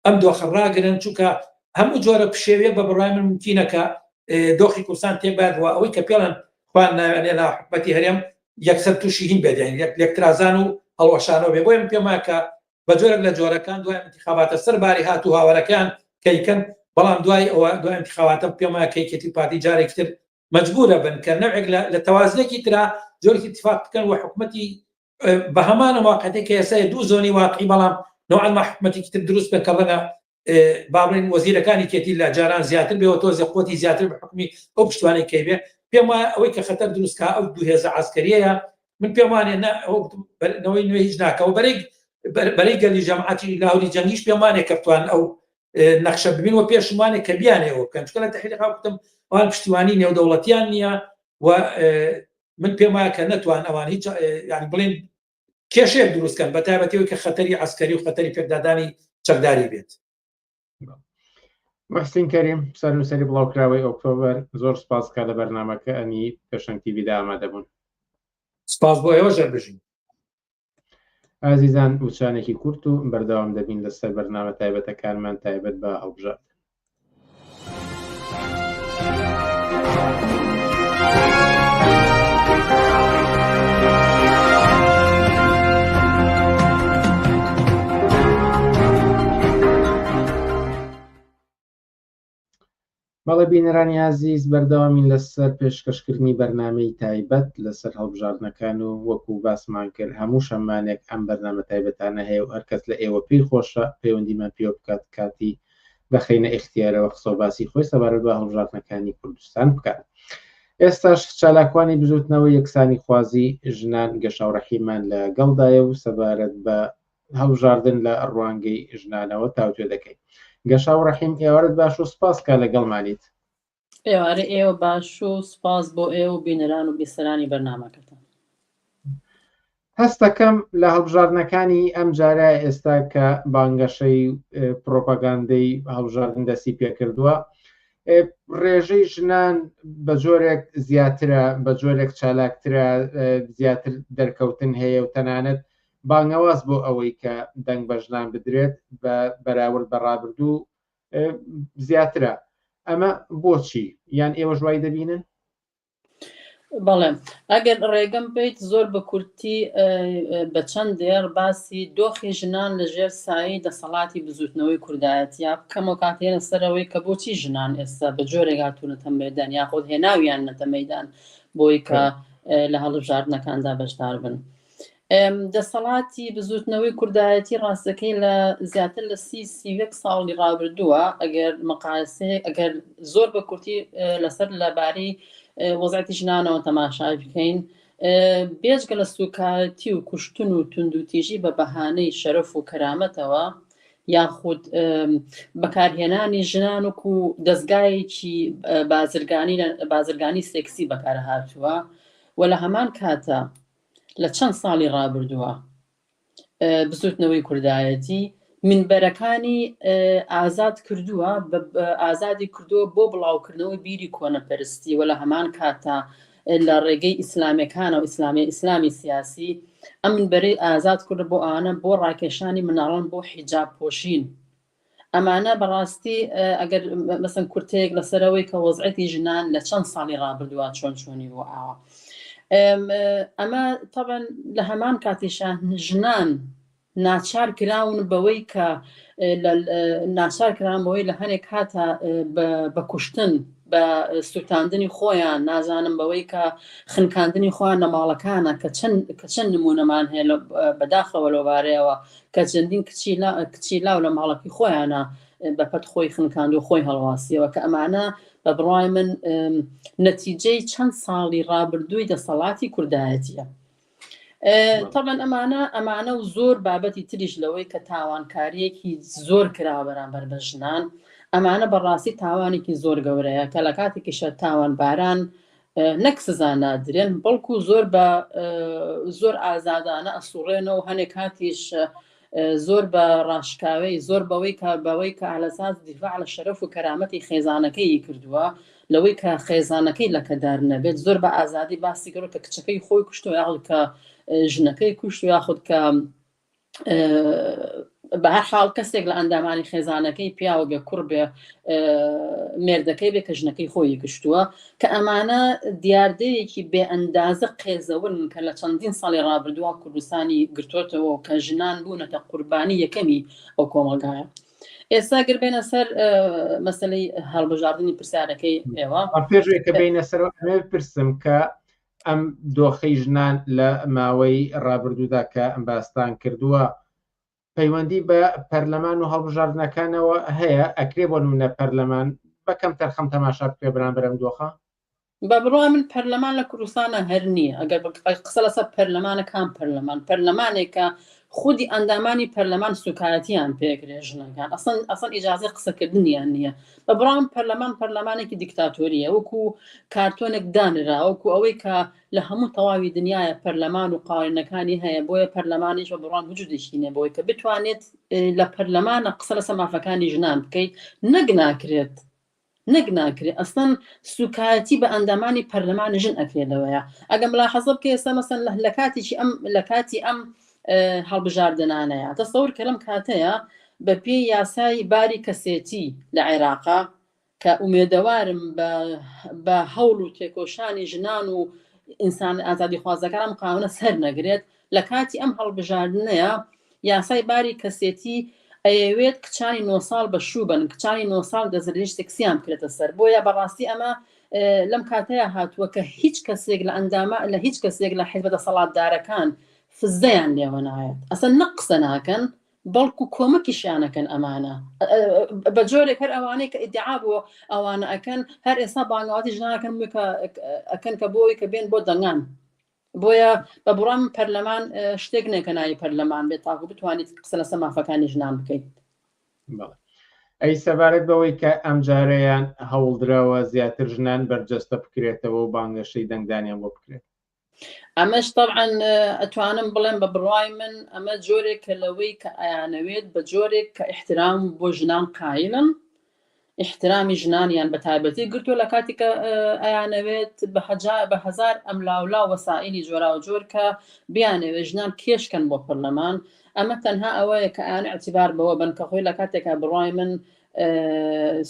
ئەم دۆخە ڕاگرن، چونکە هەموو جۆرە پشێویە بە بڕای من ممکینە کە اه، دۆخی کوردستان تێک بات و ئەوەی کە پێڵن خوان ناوێنێ لا حکومەتی هەرێم یەکسەر تووشی هین بێت یان یەک لێکترازان و هەڵوەشانەوە بێ بۆیە من پێم وایە کە بە جۆرێک لە جۆرەکان دوای انتخاباتە سەر باری هات و هاوارەکەیان کەیکەن بەڵام دوای ئەوە دوای انتخاباتە پێم وایە کەیکێتی پارتی جارێکی تر مجبورە بن کە نەوێک لە تەوازنێکی ترا جۆری اتفاق بکەن و حکومەتی بە هەمانە واقعەتی کە ئێستا دوو زۆنی واقعی بەڵام نوعا حکومەتێکی تر دروست بکە ڕەنگە با بڵێین وەزیرەکانی کێتی لە جاران زیاتر بێەوە تۆزی قوتی زیاتر بە حکمی ئەو پشتوانەی کەی بێ پێم وایە ئەوەی کە خەتەر دروستکە ئەو دوهێزە ئاسکەریەیە من پێم وانێ نەوەی نوێ هیچ ناکەەوە بەرێک بەرەی گەلی جەماتی لاهوری جەنگیش پێم وانێ کەفتوان ئەو نەخشە ببین و پێشمانێک کە بیانەوە بکەن چکە لە تحریقا بتم ئەوان پشتیوانی نێودەوڵەتیان نییە و من پێم وایە کە نەتوان ئەوان هیچ بڵێن کێشەیەک دروست کەن بە تایبەتی ئەوی کە خەتەری عسکەری و خەتەری پێکدادانی چەکداری بێت مەستین کەریم سەر نووسری بڵاوکراوەی ئۆکتۆبەر زۆر سپاس کا لە بەرنمەکە ئەنی پێشنگ تیویدا ئامادەبوون سپاس بۆ ئێوە ژەر بژین ئازیزان وچانێکی کورت و بەردەوام دەبین لەسەر بەرنامە تایبەتەکانمان تایبەت بە هەڵبژات بەڵێ بینەرانی ئازیز بەردەوامین لەسەر پێشکەشکردنی بەرنمەی تایبەت لەسەر هەڵبژاردنەکان و وەکو باسمان کرد هەموو شەمانێک ئەم بەرنامە تایبەتانە هەیە و هەرکەس لە ئێوە پێی خۆشە پەیوەندیمان پێوە بکات کاتی بەخەینە ئیختیارەوە قسە و باسی خۆی سەبارەت بە هەڵبژاردنەکانی کوردستان بکات ئێستاش چالاکوانی بزوتنەوە یەکسانی خوازی ژنان گەشاوڕەحیمان لە گەڵدایە و سەبارەت بە هەڵبژاردن لە ڕوانگەی ژنانەوە تاوتێ دەکەین گەشاو ڕەحیم ئێوارت باش و سپاس کا لەگەڵمانیت ئێوارەی ئێوە باش و سپاس بۆ ئێوە و بینەران و بیسەرانی بەرنمەکەتان هەستەکەم لە هەڵبژاردنەکانی ئەم جارە ئێستا کە بانگەشەی پرۆپاگاندەی هەڵبژاردن دەستی پێکردووە ڕێژەی ژنان بە جۆرێک زیاترە بە جۆرێک چالاکترە زیاتر دەرکەوتن هەیە و تەنانەت بانگەواز بۆ ئەوەی کە دەنگ بە ژنان بدرێت بە بەراورد بە ڕابردوو زیاترە ئەمە بۆچی یان ئێوە ژوای دەبینن بەڵێم ئەگەر ڕێگەم بیت زۆر بە کورتی بە چەند دێڕ باسی دۆخی ژنان لە ژێر سایی دەسەڵاتی بزوتنەوەی کوردایەت یا بکەمەوە کاتێنە سەرەوەی کە بۆچی ژنان ئێستا بە جۆرێگاتونەتە مەدان یاخود هێناویان نەتە مەدان بۆی کە لە هەڵبژاردنەکاندا بەشدار بن. دەسەڵاتی بزوتنەوەی کوردایەتی ڕاستەکەی لە زیاتر لە سی سیوەک ساڵی ڕابردووە ئەگەر مقاسی ئەگەر زۆر بە کورتی لەسەر لەبارەی وەزعتی ژنانەوە تەماشای بکەین بێجگە لە سوکایەتی و کوشتن و توندوتیژی بە بەهانەی شەرف و کەرامەتەوە یاخود بەکارهێنانی ژنان و و دەستگایەکی بازرگانی بازرگانی سێکسی بەکارهاتووە و لە هەمان کاتە لە چەند ساڵی ڕابردووە بزوتنەوەی کوردایەتی مینبەرەکانی ئازاد کردووە ئازادی کردووە بۆ بڵاوکردنەوەی بیری کۆنەپەرستی وە لە هەمان کاتە لە ڕێگەی ئیسلامەکانە و ئیسلامی ئیسلامی سیاسی ئەم بەرەی ئازاد کورد بۆ ئانە بۆ ڕاکێشانی مناڵن بۆ حیجاب پۆشین ئەمانە بەڕاستی ئەگەر مەسەن کورتەیەک لەسەرەوەی کە وەزعەتی ژنان لە چەند ساڵی ڕابردووە چۆن چۆنی بۆ ئاوە ئەمە تەبەن لە هەمان کاتیشان ژنان ناچار کراون بەوەی کە ناچار کرانەوەی لە هەنێک کاتە بە کوشتن بە سووتاندنی خۆیان نازانم بەوەی کە خنکاندنی خۆیان نەماڵەکانە کە چەند کە چەند نمونەمان هەیە بەداخەوە لەوبارەیەوە کە چەندین کچی لا کچی لاو لە ماڵەکەی خۆیانە بە پەت خۆی خنکاند و خۆی هەڵواسیەوە کە ئەمانە بە بڕای من نەتیجەی چەند ساڵی ڕابردووی دەسەڵاتی کوردایەتیە تەبەن ئەمانە ئەمانە و زۆر بابەتی تریش لەوەی کە تاوانکاریەکی زۆر کرا بەرامبەر بە ژنان ئەمانە بەڕاستی تاوانێکی زۆر گەورەیە کە لە کاتێکیشە تاوان باران نەک سزا نادرێن بەڵکو زۆر بە زۆر ئازادانە ئەسوڕێنەوە هەنێک کاتیش زۆر بە ڕاشکاوی زۆر بەوەی کە بەوەی کە ئالەساز دیفاع لە شەرەف و کەرامەتی خێزانەکەی کردووە لەوەی کە خێزانەکەی لەکەدار نەبێت زۆر بە ئازادی باسی گەڕ کە کچەکەی خۆی کوشتەوە یاخود کە ژنەکەی کوشت و یاخود کە بە هەر حاڵ کەسێک لە ئەندامانی خێزانەکەی پیاوە بێ کوڕ بێ مێردەکەی بێ کە ژنەکەی خۆی گشتووە کە ئەمانە دیاردەیەکی بێ ئەندازە قێزەون کە لە چەندین ساڵی ڕابردووە کوردستانی گرتوتەوە کە ژنان بوونەتە قوربانی یەکەمی ئەو کۆمەلگایە ئێستا گر بێنە سەر مەسلەی هەڵبژاردننی پرسیارەکەی ئێوە پێشێکە بینە سەر پرسم کە ئەم دۆخەی ژنان لە ماوەی ڕابردوودا کە باستان کردووە پەیوەندی بە پەرلەمان و هەڵبژاردنەکانەوە هەیە ئەکرێ بۆ نمونە پەرلەمان بەکەم تەرخەم تەماشا بکرێ بەرامبەر ئەم دۆخە؟ بە بڕوای من پەرلەمان لە کوردستانە هەر نییە ئەگەر قسە لەسەر پەرلەمانە کام پەرلەمان پەرلەمانێکە خودی ئەندامانی پەرلەمان سوکایەتیان پێکرێ ژنەکان ئەسن ئەسن ئیجازی قسەکردنیان نییە بە بڕام پەرلەمان پەرلەمانێکی دیکتاتۆریە وەکو کارتۆنێک دانرا وەکو ئەوەی کە لە هەموو تەواوی دنیاە پەرلەمان و قاوێنەکانی هەیە بۆیە پەرلەمانیش بە بڕان وجودێکی نەبەوەی کە بتوانێت لە پەرلەمانە قسە لەسە مافەکانی ژنان بکەیت نەک ناکرێت نەک ناکرێ ئەسڵەن سوکایەتی بە ئەندامانی پەرلەمانی ژن ئەکرێ لەوەیە ئەگەر ملاحەزە بکە ئێستا مەسەن لە لە کاتێکی ئەم لە کاتی ئەم هەڵبژاردنانەیە تەسەور کە لەم کاتەیە بە پێی یاسای باری کەسێتی لە عێراقا کە ئومێدەوارم بە هەوڵ و تێکۆشانی ژنان و ئینسان ئازادی خوازەکانم قاونە سەر نەگرێت لە کاتی ئەم هەڵبژاردنەیا یاسای باری کەسێتی ئەیەوێت کچانی نۆ ساڵ بە شوو بن کچانی نۆ ساڵ دەزرێژ سکسیان بکرێتە سەر بۆیە بەڕاستی ئەمە لەم کاتەیە هاتووە کە هیچ کەسێک لە ئەندامە لە هیچ کەسێک لە حزبە دەسەڵاتدارەکان فزەیان لێوە نایەت ئەسە نە قسە ناکەن بەڵکو کۆمەکیشیانەکەن ئەمانە بە جۆرێک هەر ئەوانەی کە ئیدعا بۆ ئەوانە ئەەکەن هەر ئێستا بانگاتی ژناکەن ئەەکەن کە بۆی کە بێن بۆ دەنگان بۆیە بە بڕوام پەرلەمان شتێک نیە کە ناوی پەرلەمان بێت تاکو بتوانیت قسە لەسەر مافەکانی ژنان بکەیت. بەڵێ. ئەی سەبارەت بەوەی کە ئەمجارەیان هەوڵدراوە زیاتر ژنان بەرجەستە بکرێتەوە و بانگەشەی دەنگدانیان بۆ بکرێت؟ ئەمەش تەبعەن ئەتوانم بڵێم بە بڕوای من ئەمە جۆرێکە لەوەی کە ئەیانەوێت بە جۆرێک کە ئیحترام بۆ ژنان قایلن ئیحترامی ژنانیان بە تایبەتی گرتووە لە کاتی کە ئەیانەوێت بە هەزار ئەملاولا وەسائیلی جۆراوجۆر کە بیانەوێت ژنان کێشکەن بۆ پەرلەمان ئەمە تەنها ئەوەیە کە ئەیانە ئیعتیبار بەوە بەن کە خۆی لە کاتێکا بڕای من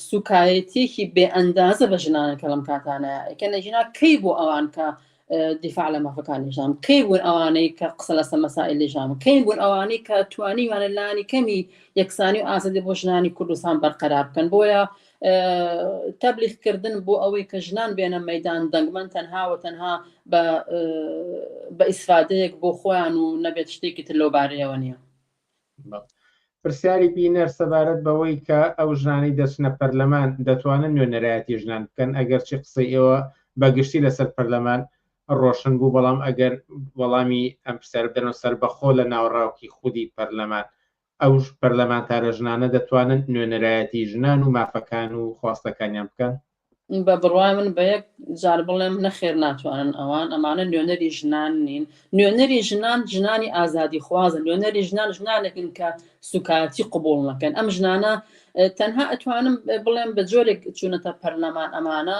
سوکایەتیەکی بێ ئەندازە بە ژنانە کە لەم کاتانەیە ئەکەنە ژنا کەی بۆ ئەوان کە دیفاع لە مافەکانی ژنان کەی بوون ئەوانەی کە قسە لەسە مەسائلی ژان کەی بوون ئەوانەی کە توانیوانە لانی کەمی یەکسانی و ئازادی بۆ ژنانی کوردستان بەرقەرار بکەن بۆیە تەبلیغکردن بۆ ئەوەی کە ژنان بێنە مەدان دەنگمەن تەنها و تەنها بە ئیسفادەیەک بۆ خۆیان و نەبێت شتێکی تر لەو بارەیەوە نییە پرسیاری بینەر سەبارەت بەوەی کە ئەو ژنانەی دەچنە پەرلەمان دەتوانن نوێنەرایەتی ژنان بکەن ئەگەرچی قسەی ئێوە بە گشتی لەسەر پەرلەمان ڕۆشن بوو بەڵام ئەگەر وەڵامی ئەم پرسیار بدەنەوە سربەخۆ لە ناوەڕاوکی خودی پەرلەمان ئەو پەرلەمانتارە ژنانە دەتوانن نوێنەرایەتی ژنان و مافەکان و خواستەکانیان بکەن بە بڕوای من بە یەک جار بڵێم نەخێر ناتوانن ئەوان ئەمانە نوێنەری ژنان نین نوێنەری ژنان ژنانی ئازادی خوازن نوێنەری ژنان ژنانێکن کە سوکایەتی قوبول نەکەن ئەم ژنانە تەنها ئەتوانم بڵێم بە جۆرێک چوونەتە پەرلەمان ئەمانە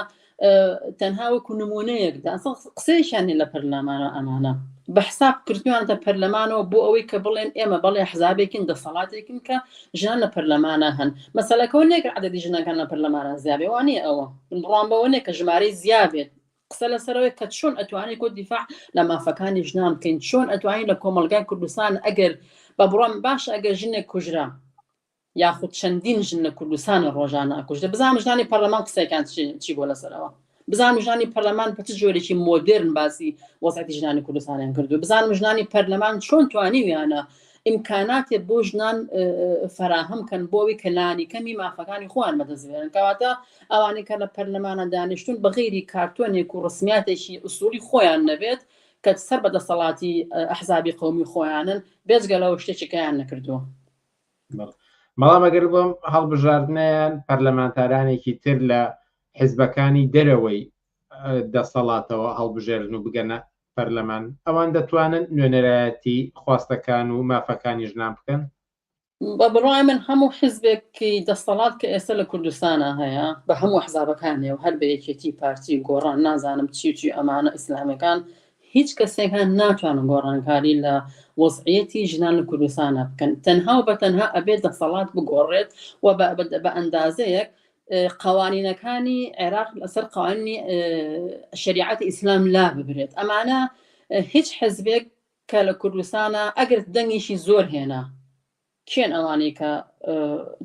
تەنها وەکو نمونەیەکدا قسەیشیان لە پەرلەمانە ئەمانە بە حساب کردویانتە پەرلەمانەوە بۆ ئەوەی کە بڵێن ئێمە بەڵێ حزابێکین دەسەڵاتێکین کە ژنان لە پەرلەمانا هەن مەسەلەکەەوە نیە کە عدەدی ژنەکان لە پەرلەمانە زیابێ وانە ئەوە بڕوان بەوە نیە کە ژمارەی زیابێت قسە لەسەرەوەی کە چۆن ئەتوانانی کۆ دیفاع لە مافەکانی ژنان بکەین چۆن ئەتوانین لە کۆمەلگای کوردستان ئەگەر بە بڕۆم باش ئەگەر ژنێک کوژرا یاخود چەندین ژن لە کوردستانە ڕۆژانە ئەکوژدە بزانام ژنانی پەرلەمان قسەکان چی بۆ لەسەرەوە بزانم ژنانی پەرلەمان بە چ جۆرێکی مۆدرن باسی وەزعەتی ژنانی کوردستانیان کردو بزانم ژنانی پەرلەمان چۆن توانیویانە ئیمکاناتێ بۆ ژنان فراهەم کەن بۆەوەی کە لانی کەمی مافەکانی خۆیان بەدەستێن کەواتە ئەوانەی کە لە پەرلەمانە دانیشتون بەغیری کارتۆنێک و ڕسمیاتێکی ئوسولی خۆیان نەبێت کە سەر بە دەسەڵاتی ئەحزابی قومی خۆیانن بێزگە لەەوە شتێکیکەیان نەکردووە بەڵام ئەگەر بۆم هەڵبژاردنیان پەرلەمانتارانێکی تر لە حزبەکانی دەرەوەی دەسەڵاتەوە هەڵبژێرن و بگەنە پەرلەمان، ئەوان دەتوانن نوێنەرایەتی خواستەکان و مافەکانی ژنان بکەن؟ بە بڕوای من هەموو حزبێکی دەسەڵات کە ئێستا لە کوردستانا هەیە بە هەموو ئەحزابەکانێ و هەر بە یەکێتی پارتی و گۆڕان نازانم چی و چی ئەمانە ئیسلامیەکان هیچ کەسێکان ناتوانن گۆڕانکاری لە وەزعیەتی ژنان لە کوردستانا بکەن تەنها و بە تەنها ئەبێت دەسەڵات بگۆڕێت و بە ئەندازەیەک قوانینەکانی عێراق لەسەر قوانینی شریعەت ئیسلام لا ببرێت ئەمانە هیچ حزبێک کە لە کوردستانە ئەگەر دەنگیشی زۆر هێنا کێن ئەوانەی کە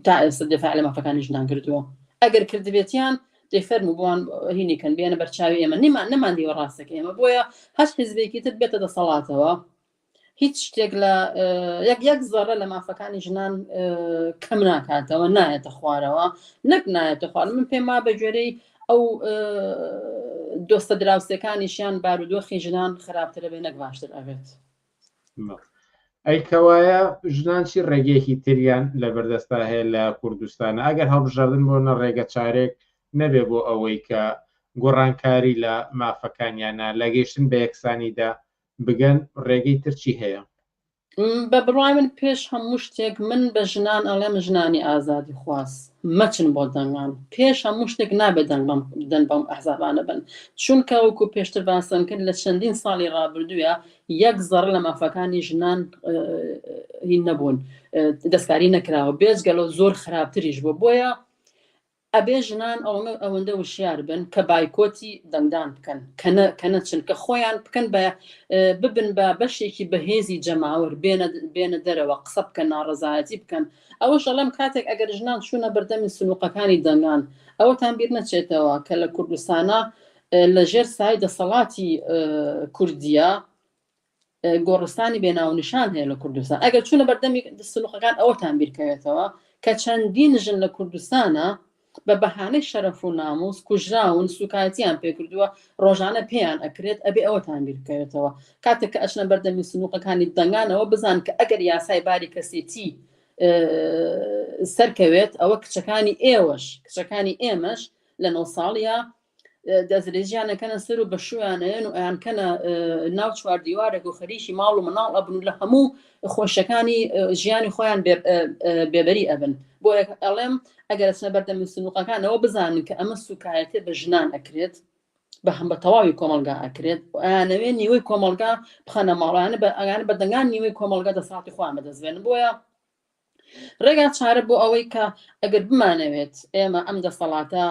تا ئێستا دفاع لە مافەکانی ژنان کردووە ئەگەر کردبێتیان دەفەرم بووان هینیکەن بێنە بەرچاوی ئێمە نیمان نەمان دیوە ڕاستەکە ئێمە بۆیە هەست حزبێکی تر بێتە دەسەڵاتەوە هیچ شتێک لە یەک یەک زەڕە لە مافەکانی ژنان کەم ناکاتەوە نایەتە خوارەوە نەک نایەتە خوار من پێم وا بە گوێرەی ئەو دۆستە دراوسەکانیشیان بارودۆخی ژنان خراپترە بێ نەک باشتر ئەبێت ئەیکەوایە ژنان چی ڕێگەیەکی تریان لە بەردەستا هەیە لە کوردستانە ئەگەر هەڵبژاردن بۆ نە ڕێگە چارێک نەبێ بۆ ئەوەی کە گۆڕانکاری لە مافەکانیانە لە گەیشتن بە یەکسانیدا بگەن ڕێگەی تر چی هەیە؟ بە بڕوای من پێش هەموو شتێک من بە ژنان ئەڵێم ژنانی ئازادی خواز مەچن بۆ دەنگان پێش هەموو شتێک نابێت دەنگ بەم دەن بەم ئەحزابانە بن چونکە وەکو پێشتر باسم کرد لە چەندین ساڵی ڕابردووە یەک زەڕ لە مافەکانی ژنان هی نەبوون دەستکاری نەکراوە بێجگەلەوە زۆر خراپتریش بوو بۆیە ئەبێ ژنان ئەوەنە ئەوەندە وشیار بن کە بایکۆتی دەنگدان بکەن کە نە کە نەچن کە خۆیان بکەن بە ببن بە بەشێکی بەهێزی جەماوەر بێنە بێنە دەرەوە قسە بکەن ناڕەزایەتی بکەن ئەوەش ئەڵێم کاتێک ئەگەر ژنان چوونە بەردەمی سنووقەکانی دەنگان ئەوەتان بیر نەچێتەوە کە لە کوردستانە لە ژێر سای دەسەڵاتی کوردیە گۆڕستانی بێ ناونیشان هەیە لە کوردستان ئەگەر چونە بەردەمی سنوقەکان ئەوەتان بیرکەوێتەوە کە چەندین ژن لە کوردستانە بە بەهانەی شەرەف و ناموس کوژراون سوکایەتیان پێکردووە ڕۆژانە پێیان ئەکرێت ئەبێ ئەوەتان بیرکەوێتەوە کاتێک کە ئەچنە بەردەمی سنووقەکانی دەنگانەوە بزان کە ئەگەر یاسای باری کەسێتی سەرکەوێت ئەوە کچەکانی ئێوەش کچەکانی ئێمەش لە نۆ ساڵە دەستدرێژیان ئەکەنە سەر و بەشویانەیەن و ئەیان کەنە ناو چوار دیوارێک و خەریکی ماڵ و مناڵ ئەبن و لە هەموو خۆشەکانی ژیانی خۆیان بێبەری ئەبن بۆ ئەڵێم ئەگەر سنە بەردەم سنوقەکانەوە بزانن کە ئەمە سوکایەتێ بە ژنان ئەکرێت بە هەم بە تەواوی کۆمەلگا ئەکرێت ئەیانەوێ نیوەی کۆمەلگا بخەنە ماڵیانە بە ئەگان بەدەنگان نیوەی کۆمەلگا دەساڵتی خۆیان بەدەستێن بۆیە ڕێگا چارە بۆ ئەوەی کە ئەگەر بمانەوێت ئێمە ئەم دەسەڵاتە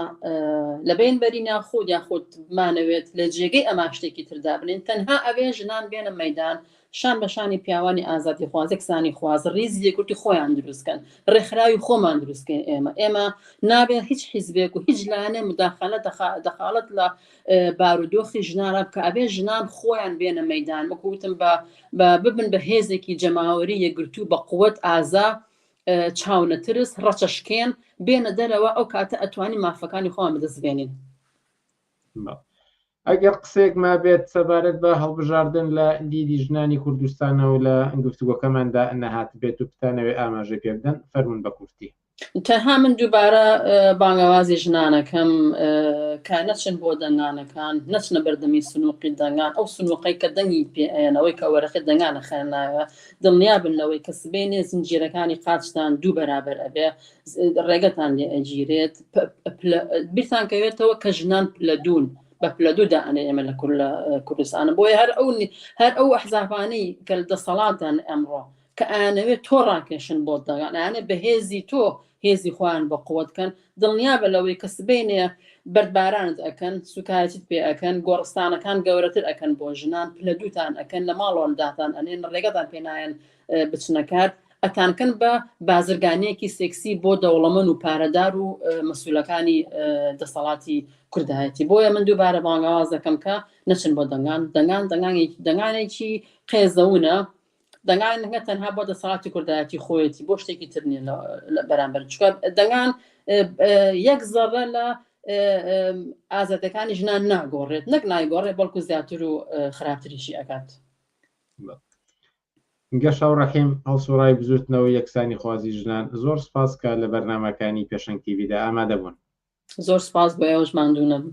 لەبین بەری ناخود یاخود بمانەوێت لە جێگەی ئەما شتێکی تردا بنین تەنها ئەوێ ژنان بێنە مەدان شان بە شانی پیاوانی ئازادی خوازێکسانی خواز ریز یەکورتی خۆیان دروستکەن ڕێکخراوی خۆمان دروستکەین ئێمە ئێمە نابێت هیچ حیزبێک و هیچ لایەنێ مداخلە دەخالەت لە بارودۆخی ژنانە بکە ئەبێ ژنان خۆیان بێنە مەدان وەکو وتم بە ببن بە هێزێکی جەماوەری یەگرتوو بە قوت ئازا چاونەترس ڕەچەشکێن بێنە دەرەوە ئەو کاتە ئەتوانی مافەکانی خۆیان بدەستبێنین ئەگەر قسێک ما بێت سەبارەت بە هەڵبژاردن لە دیدی ژنانی کوردستانەوە لە گفتوگۆکەماندا نەهات بێت و بتانەوێ ئاماژە پێ بدەن فەرمونون بە کورتی تەنها من دووبارە بانگەوازی ژنانەکەم کە نەچن بۆ دەنگانەکان نەچنە بەردەمی سنووقی دەنگان ئەو سنووقەی کە دەنگی پێەنەوەی کە وەرەخی دەنگانە خێناوە دڵنیا بن لەوەی کە سبێنێ زنجیرەکانی قاچتان دوو بەرابەر ئەبێ ڕێگەتان لێ ئەگیرێت بیرتان کەوێتەوە کە ژنان لە دوون بە پلە دوو دائەنێ ئێمە لە کورد لە کوردستانە بۆیە هەر ئەو هەر ئەو ئەحزافانەی کە دەسەڵاتدان ئەمڕۆ کە ئەیانەوێت تۆ ڕاکێشن بۆ دەگەڵ ئەیانێ بە هێزی تۆ هێزی خۆیان بە قوت کەن دڵنیابە لەوەی کە سبەینێ بەردبارانت ئەکەن سوکایەتیت پێ ئەکەن گۆڕستانەکان گەورەتر ئەکەن بۆ ژنان پلە دووتان ئەکەن لە ماڵۆنداتان ئەنێن ڕێگەتان پێنایەن بچنەکات ئەتانکەن بە بازرگانیەکی سێکسی بۆ دەوڵەمەن و پارەدار و مەسولەکانی دەسەڵاتی کوردایەتی بۆیە من دووبارە بانگاواز دەکەم کە نەچن بۆ دەنگان دەنگان دەنگانێکی دەنگانێکی قێزەونە دەنگان نەک تەنها بۆ دەسەڵاتی کوردایەتی خۆیەتی بۆ شتێکی تر نیە بەرامبەر چکە دەنگان یەک زەڕە لە ئازادەکانی ژنان ناگۆڕێت نەک نایگۆڕێت بەڵکو زیاتر و خراپتریشی ئەکات گەشاو ڕەحیم هەڵسوڕای بزوتنەوە یەکسانی خوازی ژنان زۆر سپاس کە لە بەرنمەکانی پێشنگ تیویدا ئامادەبوون زۆر سپاس بۆ ئێوەش ماندوو نەبوو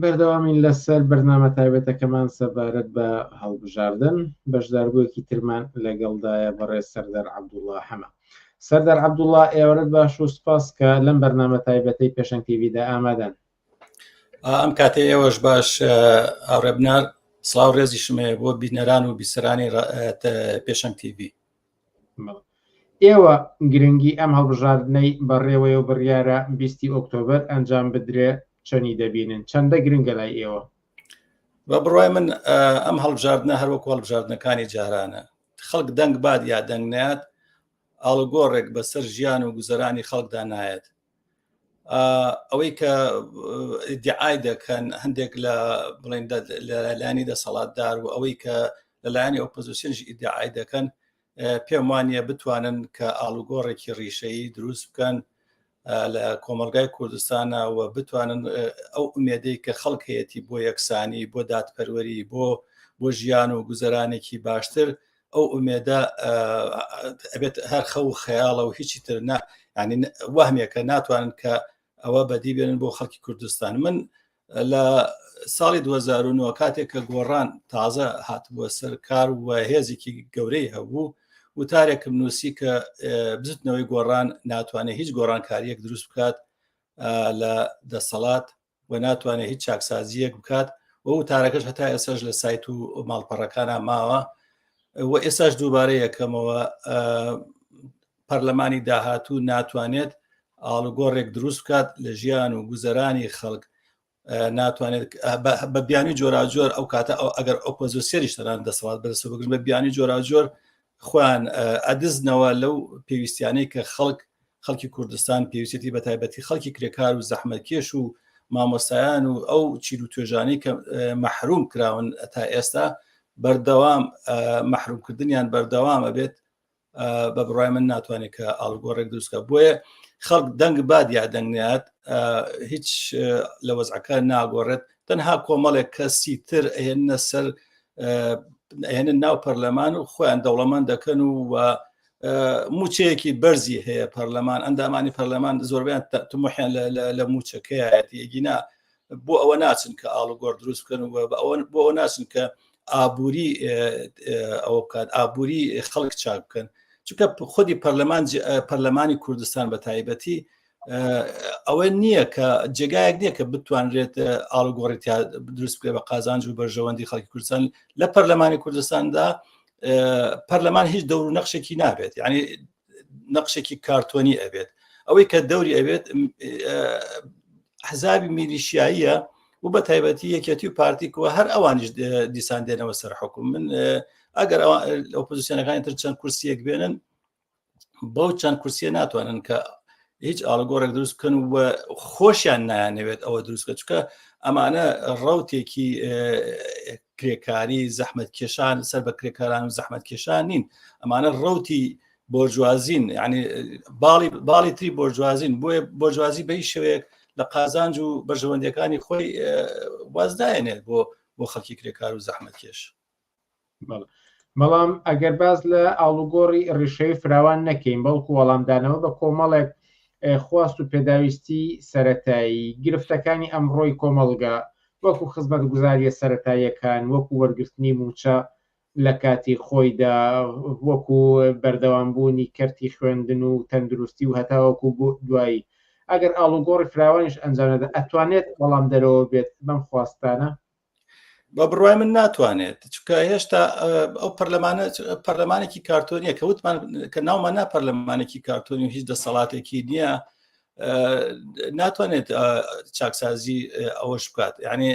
بەردەوامین لەسەر بەرنامە تایبەتەکەمان سەبارەت بە هەڵبژاردن بەشداربووەکی ترمان لەگەڵدایە بەڕێ سەردەر عبدوڵا حەمە سەردار عبدوڵا ئێوەرت باش و سپاس کە لەم بەرنامە تایبەتەی پێشەن تیویدا ئامادەن ئەم کاتێ ئێوەش باش ئاڕێبنار سلااو ڕێزی شمەیە بۆ بینەران و بیسەرانی پێشەنگ تیوی ئێوە گرنگی ئەم هەڵبژاردنەی بەڕێوەیەو بڕیارە بیستی ئۆکتۆبەر ئەنجام بدرێ چەنی دەبینن چەندە گرنگە لای ئێوە بە بڕای من ئەم هەڵبژاردنە هەروەک هەڵبژاردنەکانی جارانە خەڵک دەنگ باد یا دەنگ نات ئاڵگۆڕێک بەسەر ژیان و گوزەرانی خەڵکدا نایەت ئەوەی کە دیعای دەکەن هەندێک لە بڵێن لەلایانی دەسەڵاتدار و ئەوەی کە لەلایانی ئۆپۆزیسیۆنش ئیدعای دەکەن پێم وانە بتوانن کە ئاڵوگۆڕێکی ڕیشەیی دروست بکەن لە کۆمەلگای کوردستانە و بتوانن ئەو ئومێدەی کە خەڵک هەیەی بۆ یەکسانی بۆ دادپەروەری بۆ بۆ ژیان و گوزەرانێکی باشتر ئەو ئومێدە ئەبێت هەر خەو و خەیاڵە و هیچی تر نە ینی وەهمێکە ناتوانن کە ئەوە بەدی بێنن بۆ خەڵکی کوردستان من لە ساڵی 2009 کاتێک کە گۆڕان تازە هاتبووە سەر کار و هێزێکی گەورەی هەبوو وتارێکم نووسی کە بزتنەوەی گۆڕان ناتوانێت هیچ گۆڕانکاریەک دروست بکات لە دەسەڵات و ناتوانێت هیچ چاکسازییەک بکات و وتارەکەش هەتا ئێسش لە سایت و ماڵپەڕەکانە ماوە و ئێساش دووبارە یەکەمەوە پەرلەمانی داهاتوو ناتوانێت ئاڵوگۆڕێک دروست بکات لە ژیان و گوزەرانی خەڵک ناتوانێت بە بیانی جۆراجۆر ئەو کاتە ئەو ئەگەر ئۆپۆزیسیریش تەران دەسەڵات بەرسە بگرن بە بیانی جۆراجۆر خۆیان ئەدزنەوە لەو پێویستیانەی کە خەڵک خەڵکی کوردستان پێویستی بە تایبەتی خەڵکی کرێکار و زەحمەکێش و مامۆستایان و ئەو چیر و توێژانەی کە مەحروم کراون تا ئێستا بەردەوام مەحرومکردنیان بەردەوامە بێت بە بڕای من ناتوانێت کە ئاڵگۆڕێک دروستکە بۆیە خەڵک دەنگ باد یا دەنگات هیچ لە وەزعەکە ناگۆڕێت تەنها کۆمەڵێک کەسی تر ئەهێنە سەر ئەهێنە ناو پەرلەمان و خۆیان دەوڵەمان دەکەن و و موچەیەکی بەرزی هەیە پەرلەمان ئەندامانی پەرلەمان زۆربیان تمحیان لە موچەکەیەتی یەگینا بۆ ئەوە ناچن کە ئاڵوگۆر دروست بکەن و بۆ ئەوە ناچن کە ئابووری ئەوە بکات ئابووری خەڵک چاک بکەن چونکە خودی پەرلەمان پەرلەمانی کوردستان بە تایبەتی ئەوە نییە کە جێگایەک نییە کە بتوانرێت ئاڵگۆڕێتیا دروست بکرێت بە قازانج و بەرژەوەندی خەڵکی کوردستان لە پەرلەمانی کوردستاندا پەرلەمان هیچ دەور و نەخشێکی نابێت ینی نەخشێکی کارتۆنی ئەبێت ئەوەی کە دەوری ئەبێت حزابی میلیشیاییە و بە تایبەتی یەکێتی و پارتیکەوە هەر ئەوانیش دیسان دێنەوە سەر حکوم من ئەگەر ئۆپۆزیسیۆنەکانی تر چەند کورسیەک بێنن بەو چەند کورسیە ناتوانن کە هیچ ئاڵگۆڕێک دروست بکەن و خۆشیان نایانەوێت ئەوە دروستکە چکە ئەمانە ڕوتێکی کرێکاری زەحمت کێشان سەر بە کرێکاران و زەحمت کێشان نین ئەمانە ڕوتی بۆرجوازین ینی باڵی باڵی تری بۆرجوازین بۆیە بۆرجوازی بەی شوێک لە قازانج و بەژەوەندەکانی خۆی وازداێنێت بۆ بۆ خەڵکی کرێکار و زەحمت کێش بەڵام ئەگەر باز لە ئاڵوگۆڕی ڕیشەوی فراوان نەکەین بەڵکو وەڵامدانەوە بە کۆمەڵێک خواست و پێداویستی سەتایی گرفتەکانی ئەمڕۆی کۆمەڵگە وەکو خزمەت گوزاریە سەتاییەکان وەکو وەرگرتنی موچە لە کاتی خۆیدا وەکو بەردەوامبوونی کەرتی خوێندن و تەندروستی و هەتاوەکو بۆ دوایی ئەگەر ئاڵوگۆڕی فراوانیش ئەنجامدە ئەتوانێت بەڵام دەرەوە بێت بەم خواستانە بە بڕای من ناتوانێت چکە هێشتا ئەو پەرلەمانە پەرلەمانێکی کارتۆنیە کە وتمان کە ناومان نا پەرلەمانێکی کارتۆنی و هیچ دەسەڵاتێکی نییە ناتوانێت چاکسازی ئەوەش بکات یعنی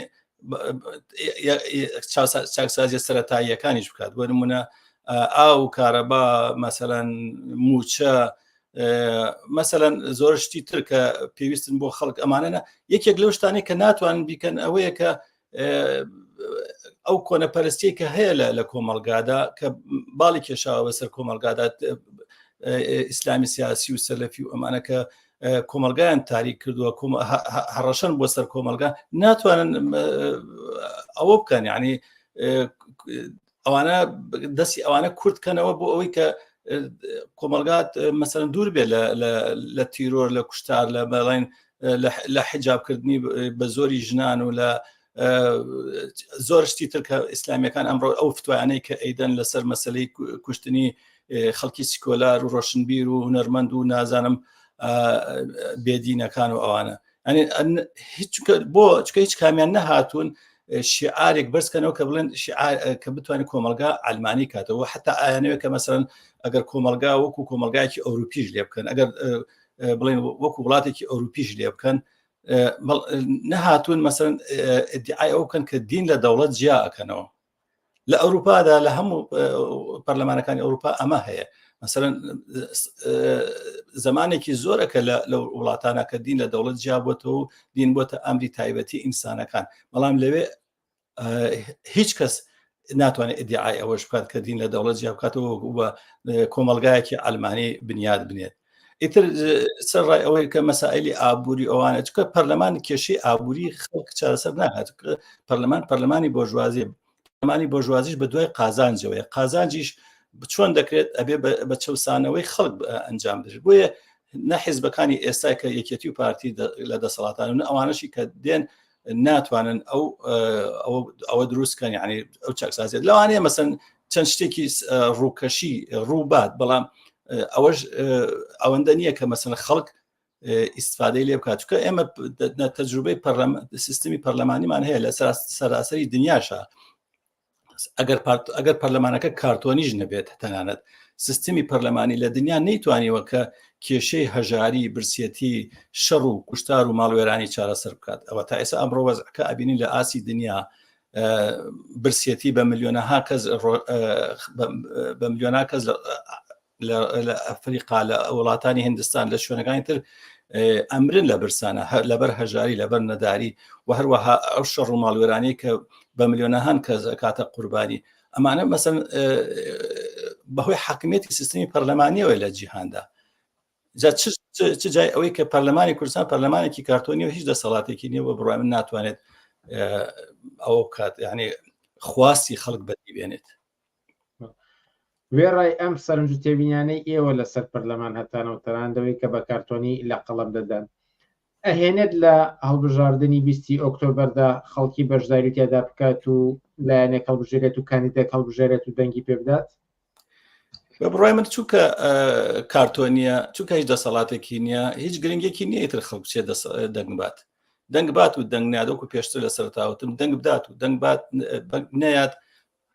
چاکسازیە سەتاییەکانیش بکات بۆ نمونە ئاو کارەبا مەسەەن موچە مەسەەن زۆر شتی تر کە پێویستن بۆ خەڵک ئەمانەنە یەکێک لەو شتانی کە ناتوانن بیکەن ئەوەیە کە ئەو کۆنە پەرستی کە هەیە لە لە کۆمەلگادا کە باڵی کێشاوە بەسەر کۆمەلگادات ئیسلامی سیاسی و سەلەفی و ئەمانەکە کۆمەلگایان تاریک کردووە هەڕەشەن بۆ سەر کۆمەلگا ناتوانن ئەوە بکەن ینی ئەوانە دەستی ئەوانە کورت کەنەوە بۆ ئەوەی کە کۆمەلگات مەسەرەن دوور بێت لە تیرۆر لە کوشتار لە بەڵێن لە حجابکردنی بە زۆری ژنان و لە زۆر شتی تر کە ئیسلامیەکان ئەمڕۆ ئەو فتوانەی کە ئەیدەن لەسەر مەسلەی کوشتنی خەڵکی سکۆلار و ڕۆشنبیر و هونەرمەند و نازانم بێدینەکان و ئەوانە بۆ چکە هیچ کامیان نەهاتوون شعارێک بەرزکەنەوە کە بڵێن کە بتوانێت کۆمەلگا ئەلمانی کاتەوە حتا ئایانەوە کە مەسەرەن ئەگەر کۆمەلگا وەکو کۆمەلگایکی ئەوروپیش لێ بکەن ئەگەر بڵێن وەکو وڵاتێکی ئەوروپیش لێ بکەن نەهاتوون مەسەرەن ئەو بکەن کە دین لە دەوڵەت جیاکەنەوە لە ئەوروپادا لە هەموو پەرلەمانەکانی ئەوروپا ئەمە هەیە مثلا زمانێکی زۆرە کە لە وڵاتانە کە دین لە دەوڵەت جیابەتەوە و دین بۆتە ئەمری تایبەتی ئینسانەکان بەڵام لەوێ هیچ کەس ناتوانێت ئیدعای ئەوەش بکات کە دین لە دەوڵەت جیابکاتەوە بە کۆمەلگایەکی ئەلمانی بنیاد بنێت ئیتر سەر ڕای ئەوەی کە مەسائلی ئابووری ئەوانە چکە پەرلەمان کێشەی ئابووری خەڵک چارەسەر ناهات پەرلەمان پەرلەمانی بۆژوازی پەرلەمانی بۆژوازیش بە دوای قازانجەوەی قازانجیش چۆن دەکرێت ئەبێ بە چەسانەوەی خەڵک ئەنجام دەش بۆیە نە حیزبەکانی ئێستا کە یەکێتی و پارتی لە دەسەڵاتان و ئەوانەشی کە دێن ناتوانن ئەو ئەوە دروستکەن یعنی ئەو چاکسازێت لەوانەیە مەسن چەند شتێکی ڕووکەشی ڕووبات بەڵام ئەوەش ئەوەندە نییە کە مەسن خەڵک ئیسفادەی لێ بکات چکە ئێمە تەجروبەی سیستمی پەرلەمانیمان هەیە لە سەراسەری دنیاشە ئەگەر ئەگەر پەرلەمانەکە کارتۆنیش نەبێت تەنانەت سیستمی پەرلەمانی لە دنیا نەیتوانیوە کە کێشەی هەژاری برسێتی شەڕ و کوشتار و ماڵوێرانی چارەسەر بکات ئەوە تا ئێستا ئەمڕۆ وەزعکە ئەبینین لە ئاسی دنیا برسێتی بە ملیۆنەها کەس بە ملیۆنا کەس لە ئەفریقا لە وڵاتانی هندستان لە شوێنەکانی تر ئەمرن لە برسانە لەبەر هەژاری لەبەر نەداری و هەروەها ئەو شەڕ و ماڵوێرانی کە بە ملیۆنەهان کە کاتە قوربانی ئەمانە مەسن بەهۆی حکمێتی سیستمی پەرلەمانیەوە لە جیهاندا چ جای ئەوەی کە پەرلەمانی کوردستان پەرلەمانێکی کارتۆنی و هیچ دەسەڵاتێکی نیە بە بڕای من ناتوانێت ئەو کات یعنی خواستی خەڵک بەدی بێنێت وێڕای ئەم سەرنج و تێبینانەی ئێوە لەسەر پەرلەمان هەتانەوە تەناندەوەی کە بە کارتۆنی لە قەڵەم دەدەن ئەهێنێت لە هەڵبژاردننی بیستی ئۆکتۆبەردا خەڵکی بەشداری تێدا بکات و لایەنێک هەڵبژێرێت و کاندیدێک هەڵبژێرێت و دەنگی پێ بدات بە بڕای من چووکە کارتۆنیە چووکە هیچ دەسەڵاتێکی نییە هیچ گرنگێکی نییە تر خەڵک چێ دەنگبات دەنگبات و دەنگنادۆک و پێشتر لە سەرتاوتم دەنگ بدات و دەنگبات نەیات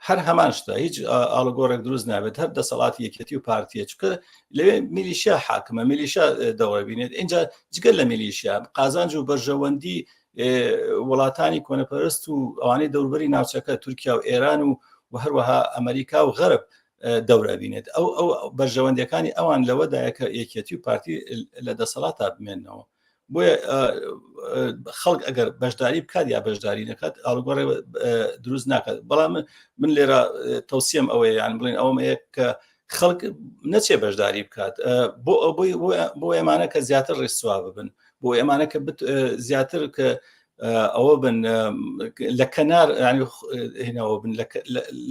هەر هەمان شتە هیچ ئاڵگۆڕێک دروست نابێت هەر دەسەڵاتی یەکێتی و پارتیە چکە لەوێ میلیشیا حاکمە میلیشا دەوەبینێت اینجا جگە لە میلیشیا قازانج و بەرژەوەندی وڵاتانی کۆنەپەرست و ئەوانەی دەوربەری ناوچەکە تورکیا و ئێران و و هەروەها ئەمریکا و غەرب دەورابینێت ئەو ئەو بەرژەوەندەکانی ئەوان لەوەدایە کە یەکێتی و پارتی لە دەسەڵات تا بمێنەوە بۆیە خەڵک ئەگەر بەشداری بکات یا بەشداری نەکات ئاڵگۆڕێ دروست ناکات بەڵام من لێرە تەوسیم ئەوەیە یان بڵین ئەوم هەیە کە خەڵک نەچێ بەشداری بکات بۆ ئەوەی بۆ ئێمانە کە زیاتر ڕێسوا ببن بۆ ئێمانە کە زیاتر کە ئەوە بن لە کەنار هێنەوە بن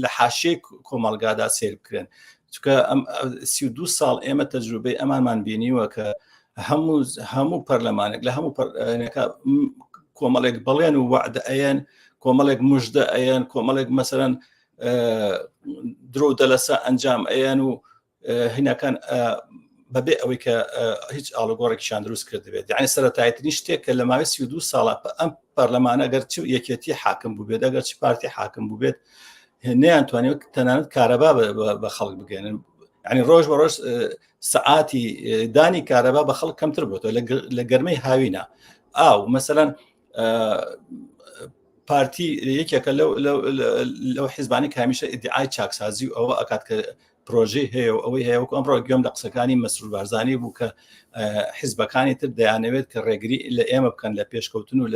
لە حاشێ کۆمەلگادا سێر بکرێن چکە ئەم سی دو ساڵ ئێمە تەجروبەی ئەمانمان بینیوە کە هەموو هەموو پەرلەمانێک لە هەموو کۆمەڵێک بەڵێن و وعدە ئەیەن کۆمەڵێک مژدە ئەیەن کۆمەڵێک مەسەرەن درۆ دەلەسە ئەنجام ئەیەن و هیناکان بەبێ ئەوەی کە هیچ ئاڵگۆڕێکیان دروست کردبێت یعنی سەرەتایترین شتێک کە لە ماوەی سی دو ساڵە ئەم پەرلەمانە گەر چ یەکێتی حاکم بووبێت ئەگەر چ پارتی حاکم بووبێت نەیان توانێت تەنانەت کارەبا بە خەڵک بگەێنن ینی ڕۆژ بە ڕۆژ سعاتی دانی کارەبا بە خەڵک کەمتر بۆتەوە لە گەرمەی هاوینە ئاو مەسەەن پارتی یەکێکە لەو حیزبانی کامیشە ئیدعای چاکسازی و ئەوە ئەکات کە پرۆژەی هەیە و ئەوەی هەیە وەکو ئەمڕۆ گوێم لە قسەکانی مەسرور بارزانانی بوو کە حیزبەکانی تر دەیانەوێت کە ڕێگری لە ئێمە بکەن لە پێشکەوتن و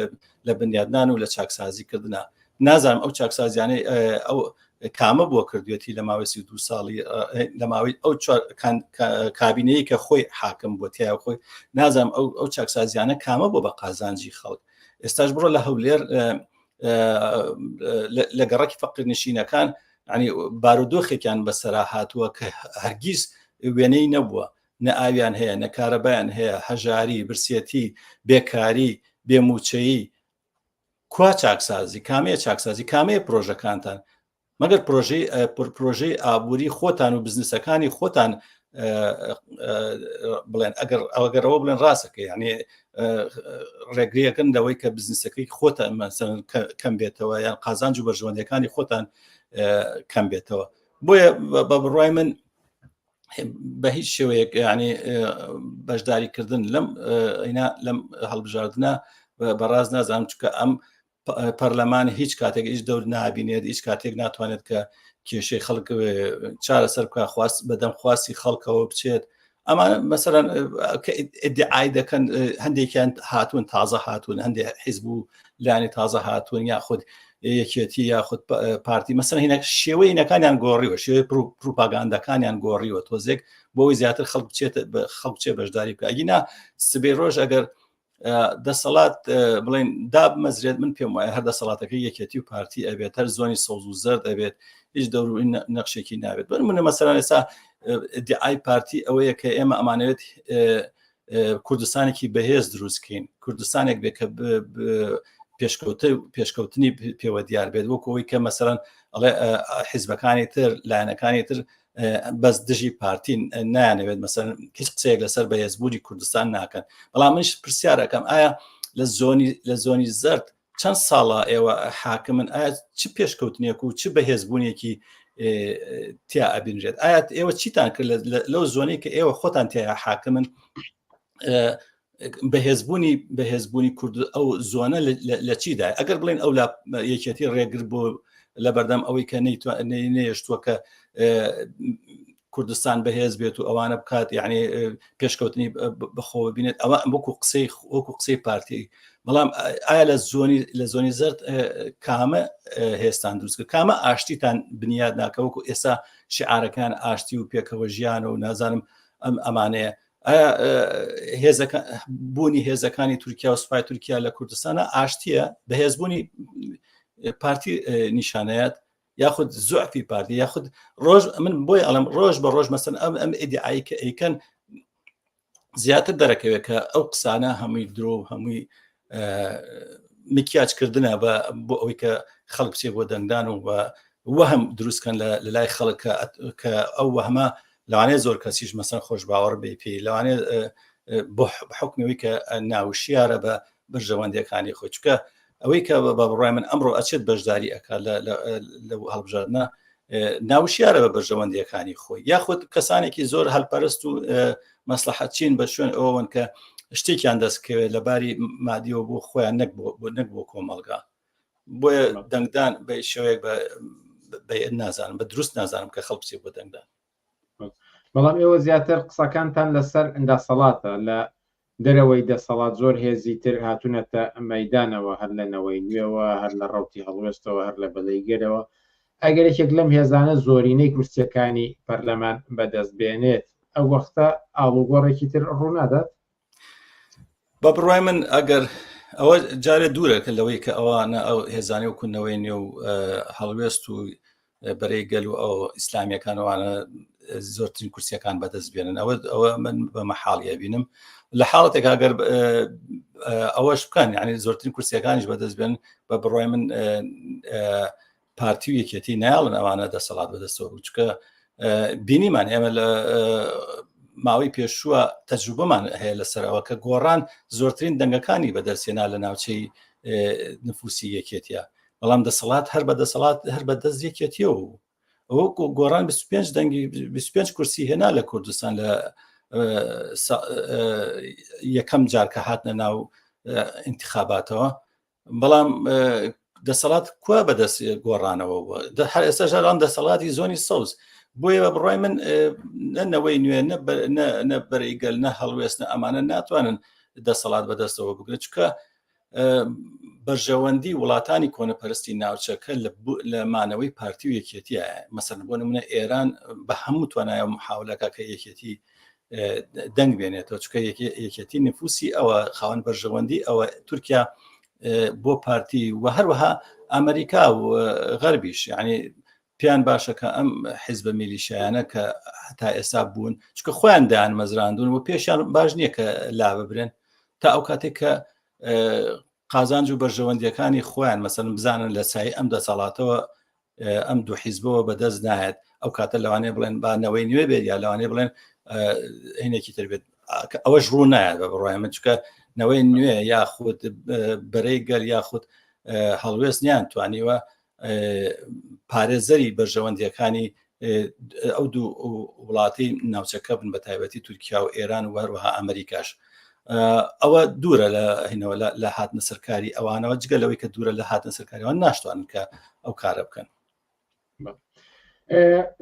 لە بنیادنان و لە چاکسازی کردنا نازانم ئەو چاکسازیانەی ئەو کامە بووە کردوێتی لە ماوەسی دو ساڵی لە ماوەی ئەو کابینەیە کە خۆی حاکم بۆ تیا خۆی نازانم ئەو ئەو چاکسازیانە کامە بۆ بە قازانجی خەڵک ئێستاش بڕۆ لە هەولێر لە گەڕکی فەقیر نشینەکان ینی بارودۆخێکیان بەسەرا هاتووە کە هەرگیز وێنەی نەبووە نە ئاویان هەیە نە کارەبایان هەیە هەژاری برسێتی بێکاری بێموچەیی کوا چاکسازی کامەیە چاکسازی کامەیە پرۆژەکانتان مەگەر پرۆژەی پرۆژەی ئابووری خۆتان و بزنسەکانی خۆتان بڵێن ئەگەر ئەوگەرەوە بڵێن ڕاستەکە یعنی ڕێگریەکەن لەوەی کە بزنسەکەی خۆتان کەم بێتەوە یان قازانج و بەرژەوەندەکانی خۆتان کەم بێتەوە بۆیە بە بڕای من بە هیچ شێوەیەک ینی بەشداریکردن لەم ئەینا لەم هەڵبژاردنە بەڕاز نازانم چکە ئەم پەرلەمان هیچ کاتێک هیچ دەور نابینێت هیچ کاتێک ناتوانێت کە کێشەی خەڵک چارە سەر بکە خواست بەدەم خواستی خەڵکەوە بچێت ئەمان مەسەرەن ئیدعای دەکەن هەندێکیان هاتوون تازە هاتوون هەندێک حیزب و لانی تازە هاتوون یاخود یەکێتی یاخود پارتی مەسەر هینە شێوەی نەکانیان گۆڕیوە شێوەی پروپاگاندەکانیان گۆڕیوە تۆزێک بۆی زیاتر خەڵک بچێت خەڵکچێ بەشداری بکە ئەگینا سبێ ڕۆژ ئەگەر دەسەڵات بڵێن دابمەزرێت من پێم وایە هەر دەسەڵاتەکە یەکێتی و پارتی ئەبێت هەر زۆنی سەوز و زەرد ئەبێت هیچ دەوروی نەخشێکی ناوێت بەر منە مەسەران ئێستا دیعای پارتی ئەوەیە کە ئێمە ئەمانەوێت کوردستانێکی بەهێز دروستکەین کوردستانێک بێ کە پێشکەوتە پێشکەوتنی پێوە دیار بێت وەکەوەی کە مەسەرەن ئەڵێ حیزبەکانی تر لایەنەکانی تر بەس دژی پارتین نایانەوێت مەسەر هیچ قسەیەک لەسەر بەهێزبوونی کوردستان ناکەن بەڵام منش پرسیارەکەم ئایا لە زۆنی لە زۆنی زرد چەند ساڵە ئێوە حاکمن ئایا چ پێشکەوتنێک و چ بەهێزبوونێکی تیا ئەبینرێت ئایا ئێوە چیتان کرد لەو زۆنی کە ئێوە خۆتان تیا حاکمن بەهێزبوونی بەهێزبوونی کورد ئەو زۆنە لە چیدا ئەگەر بڵێن ئەو لە یەکێتی ڕێگر بۆ لە بەردەم ئەوەی کە نەیتوانێشتووە کە کوردستان بەهێز بێت و ئەوانە بکات یعنی پێشکەوتنی بەخۆ بینێت ئەوە وەکو قسەی وەکو قسەی پارتی بەڵام ئایا لە زۆنی لە زۆنی زرد کامە هێستان دروستکە کامە ئاشتیتان بنیاد ناکە وەکو ئێستا شعارەکان ئاشتی و پێکەوە ژیانە و نازانم ئەم ئەمانەیە بوونی هێزەکانی تورکیا و سوپای تورکیا لە کوردستانە ئاشتیە بەهێزبوونی پارتی نیشانەت یاخود زۆفی پارتی یاخود ڕۆژ من بۆی ئەڵم ڕۆژ بە ڕۆژ مەسن ئەم ئەم ئیدعایی کە ئەیکەن زیاتر دەرەکەوێت کە ئەو قسانە هەمووی درۆ هەمووی مکیاج کردنە بە بۆ ئەوەی کە خەڵک چێ بۆ دەنگدان و بە وەهم دروستکەن لە لای خەڵک کە ئەو وەهمە لەوانێ زۆر کەسیش مەسەن خۆش باوەڕ بێ پێی لەوانێ بۆ حکمەوەی کە ناوشیارە بە بەرژەوەندەکانی خۆی چکە ئەوەی کە بە بڕای من ئەمڕۆ ئەچێت بەشداری ئەک لە هەڵبژاردنە ناوشیارە بە بەرژەوەندیەکانی خۆی یاخود کەسانێکی زۆر هەلپەرست و مەسلحەت چین بە شوێن ئەوەن کە شتێکیان دەستکەوێت لە باری مادیەوە بۆ خۆیان نەک نەک بۆ کۆمەلگا بۆیە دەنگدان بە شوەیەک بە نازانم بە دروست نازانم کە خەڵپسی بۆ دەنگدان بەڵام ئێوە زیاتر قسەکانتان لەسەر دەسەڵاتە لە دەرەوەی دەسەڵات زۆر هێزی تر هاتوونەتە مەدانەوە هەر لە نەوەی نوێوە هەر لە ڕوتی هەڵوێستەوە هەر لە بەلەی گەرەوە ئەگەر یەکێک لەم هێزانە زۆرینەی کورسیەکانی پەرلەمان بەدەست بێنێت ئەو وەختە ئاڵوگۆڕێکی تر ڕوونادات بە بڕای من ئەگەر ئەوە جارێ دوورەکە لەوەی کە ئەوانە ئەو هێزانانی و کونەوەی نێو هەڵوێست و بەرەی گەل و ئەو ئیسلامیەکانوانە زۆرترین کورسیەکان بەدەست بێنن ئەوە ئەوە من بە مەحاڵە بینم لە حاڵەتێک ئەگەر ئەوەش بکەن یعنی زۆرترین کورسیەکانیش بەدەست بێن بە بڕای من پارتی و یەکێتی نایڵن ئەوانە دەسەڵات بەدەستەوە بچکە بینیمان ئێمە لە ماوەی پێشووە تەجروبەمان هەیە لەسەرەوە کە گۆڕان زۆرترین دەنگەکانی بە دەرسێنا لە ناوچەی نفوسی یەکێتە بەڵام دەسەڵات هەر بە دەسەڵات هەر بە دەست یەکێتیەوە بوو ئەو گۆڕان 25 دەنگی 25 کورسی هێنا لە کوردستان لە یەکەم جارکە هاتنە ناو انتخاباتەوە بەڵام دەسەڵات کوا بەدەست گۆڕانەوە هەر ئێستا ژەران دەسەڵاتی زۆنی سەوز بۆیە بە بڕای من نەنەوەی نوێ نە بەرەیگەل نە هەڵوێستە ئەمانە ناتوانن دەسەڵات بەدەستەوە بگرن چکە بەرژەوەندی وڵاتانی کۆنەپەرستی ناوچەکە لە مانەوەی پارتی و یەکێتیە مەسەر بۆ نمونە ئێران بە هەموو توانایە محاولەکە کە یەکێتی دەنگ بێنێتەوە چکە یەکێتی نفوسی ئەوە خاوەن بەرژەوەندی ئەوە تورکیا بۆ پارتی و هەروەها ئەمریکا و غەربیش یعنی پێیان باشە کە ئەم حیزبە میلیشایانە کە هەتا ئێستا بوون چکە خۆیان دایان مەزراندون و پێشیان باش نییە کە لا ببرێن تا ئەو کاتێک کە قازانج و بەرژەوەندیەکانی خۆیان مەسەن بزانن لە سای ئەم دەسەڵاتەوە ئەم دوو حیزبەوە بەدەست نایەت ئەو کاتە لەوانێ بڵێن با نەوەی نوێ بێت یا لەوانێ بڵێن هینێکی تر بێت ئەوەش ڕوو نایە بە بڕای من چکە نەوەی نوێ یاخود بەرەی گەل یاخود هەڵوێست نیان توانیوە پارێزەری بەرژەوەندیەکانی ئەو دوو وڵاتی ناوچەکە بن بە تایبەتی تورکیا و ئێران و هەروەها ئەمریکاش ئەوە دوورە لە هینەوە لە هاتنە سەرکاری ئەوانەوە جگە لەوەی کە دوورە لە هاتنە سەرکاریەوەن ناشتوان کە ئەو کارە بکەن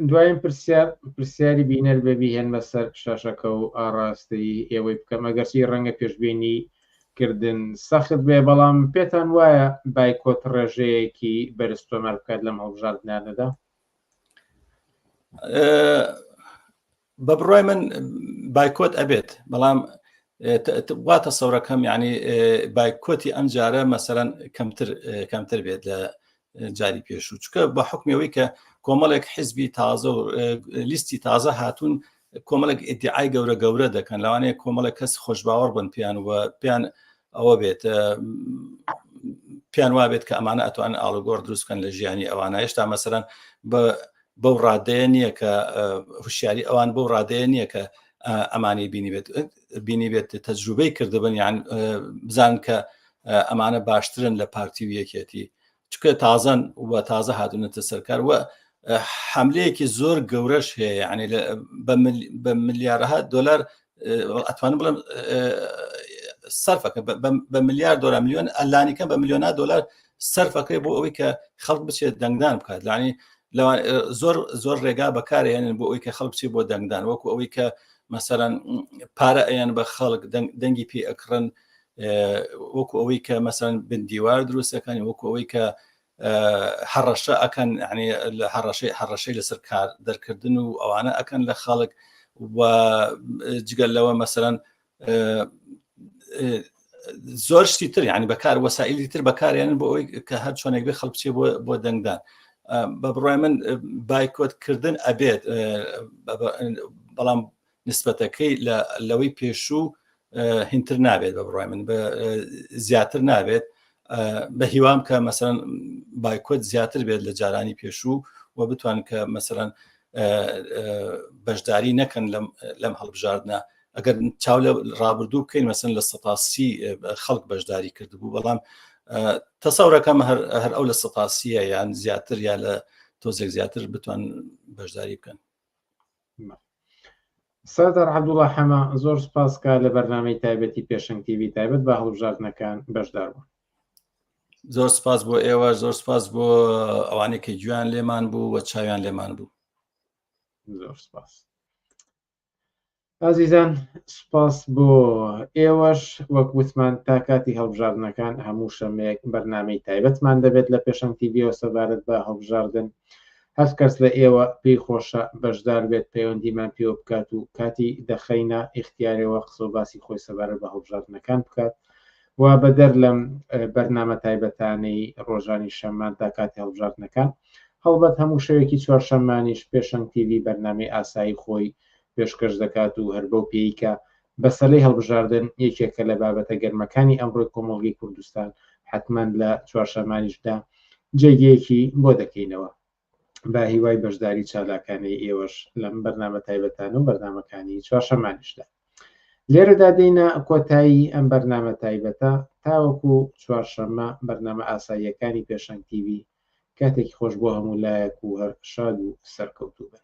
دوایم پرسیار پرسیاری بینەر بەبی هێنمە سەر شاشەکە و ئاڕاستەی ئێوەی بکەم ئەگەرسی ڕەنگە پێشببینی کردن سەخت بێ بەڵام پێتان وایە بایکۆت ڕێژەیەکی بەرز تۆمار بکات لەم هەڵبژاردنانەدا بە بڕای من بایکۆت ئەبێت بەڵام وا تەسەورەکەم ینی بایکۆتی ئەم جارە مەسەرەن کەمتر کەمتر بێت لە جاری پێشوو چکە بە حکمەوەی کە کۆمەڵێک حزبی تازە و لیستی تازە هاتوون کۆمەڵێک ئیدعای گەورە گەورە دەکەن لەوانەیە کۆمەڵێک کەس خۆشبباوەڕ بن پێیان و پێیان ئەوە بێت پێیان وابێت کە ئەمانە ئەتوان ئاڵگۆر دروستکەن لە ژیانی ئەوانە هێشتا مەسەرەن بە بەو ڕادەیە نییە کە هوشیاری ئەوان بەو ڕادەیە نییە کە ئەمانی بینیبێت بینیبێت تەجروبەی کردبن یان بزان کە ئەمانە باشترن لە پارتی و یەکێتی چکە تازەن و تازە هاتونەتە سەرکار وە حملەیەکی زۆر گەورەش هەیە عنی بە ملیارها دلار ئەتوانم بڵم سەرفەکە بە ملیار دلار میلیۆن ئەلانیکە بە میلیۆنا دلار سەرفەکەی بۆ ئەوەی کە خەڵک بچێت دەنگدان بکات لانی زۆر زۆر ڕێگا بەکارێنن بۆ ئەوی کە خەڵک چی بۆ دەنگدان وەکو ئەوەی کە مەسەرەن پارە ئەیان بە خەڵک دەنگی پێ ئەکڕن وەکو ئەوەی کە مەسەرەن بندیوار دروستەکانی وەکو ئەوەی کە هەڕەشە ئەکەن یعنی لە هەڕەشەی هەڕەشەی لەسەر کار دەرکردن و ئەوانە ئەکەن لە خەڵک و جگەل لەوە مەسەرەن زۆر شتی تر یعنی بەکار وەسائلی تر بەکاریان بۆ ئەوی کە هەر چۆنێک بێ خەڵک چێ بۆ دەنگدان بە بڕای من بایکۆت کردن ئەبێت بەڵام نسبەتەکەی لە لەوەی پێشوو هینتر نابێت بە بڕای من بە زیاتر نابێت بە هیوام کە مەسەرەن بایکۆت زیاتر بێت لە جارانی پێشوو و بتوان کە مەسەرەن بەشداری نەکەن لەم هەڵبژاردنە ئەگەر چاو لە ڕابردوو بکەین مەسن لە سەتاسی خەڵک بەشداری کردبوو بەڵام تەسەورەکەم هەر ئەو لە سەتاسیە یان زیاتر یا لە تۆزێک زیاتر بتوان بەشداری بکەن سەردار عەبدوڵا حەمە زۆر سپاس کا لە بەرنمەی تایبەتی پێشنگ تیوی تایبەت بە هەڵبژاردنەکان بەشدار بوون زۆر سپاس بۆ ئێوە زۆر سپاس بۆ ئەوانێکی گویان لێمان بوو و چاویان لێمان بوو زۆر سپاس ئازیزان سپاس بۆ ئێوەش وەک وتمان تا کاتی هەڵبژاردنەکان هەموو شەمەیەک بەرنمەی تایبەتمان دەبێت لە پێشەنگ تیڤۆ سەبارەت بە هەڵبژاردن هەر کەس لە ئێوە پێی خۆشە بەشدار بێت پەیوەندیمان پێوە بکات و کاتی دەخەینە ئیختیارێوە قسەو باسی خۆی سەبارەت بە هەڵبژاردنەکان بکات و بەدەر لەم بەرنامە تایبەتانەی ڕۆژانی شەممان تا کاتی هەڵبژاردنەکان هەڵبەت هەموو شەوێکی چوارشەممانیش پێشەنگ تیوی بەرنامەی ئاسایی خۆی پێشکەش دەکات و هەر بەو پێیکە بەسەلەی هەڵبژاردن یەکێکە لە بابەتە گەرمەکانی ئەمڕۆی کۆمەڵگەی کوردستان، حەتمەن لە چوارشەمانیشدا جێگەیەکی بۆ دەکەینەوە. بە هیوای بەشداری چالاکانەی ئێوەش لەم بەرنامە تایبەتانە و بەرنامەکانی چوارشەمانیشدا. لێرەدا دێینە کۆتایی ئەم بەرنامە تایبەتە، تاوەکو چوارشەممە بەرنامە ئاساییەکانی پێشەنگ تیڤی، کاتێکی خۆش بۆ هەموو لایەک و هەر شاد و سەرکەوتوو بن.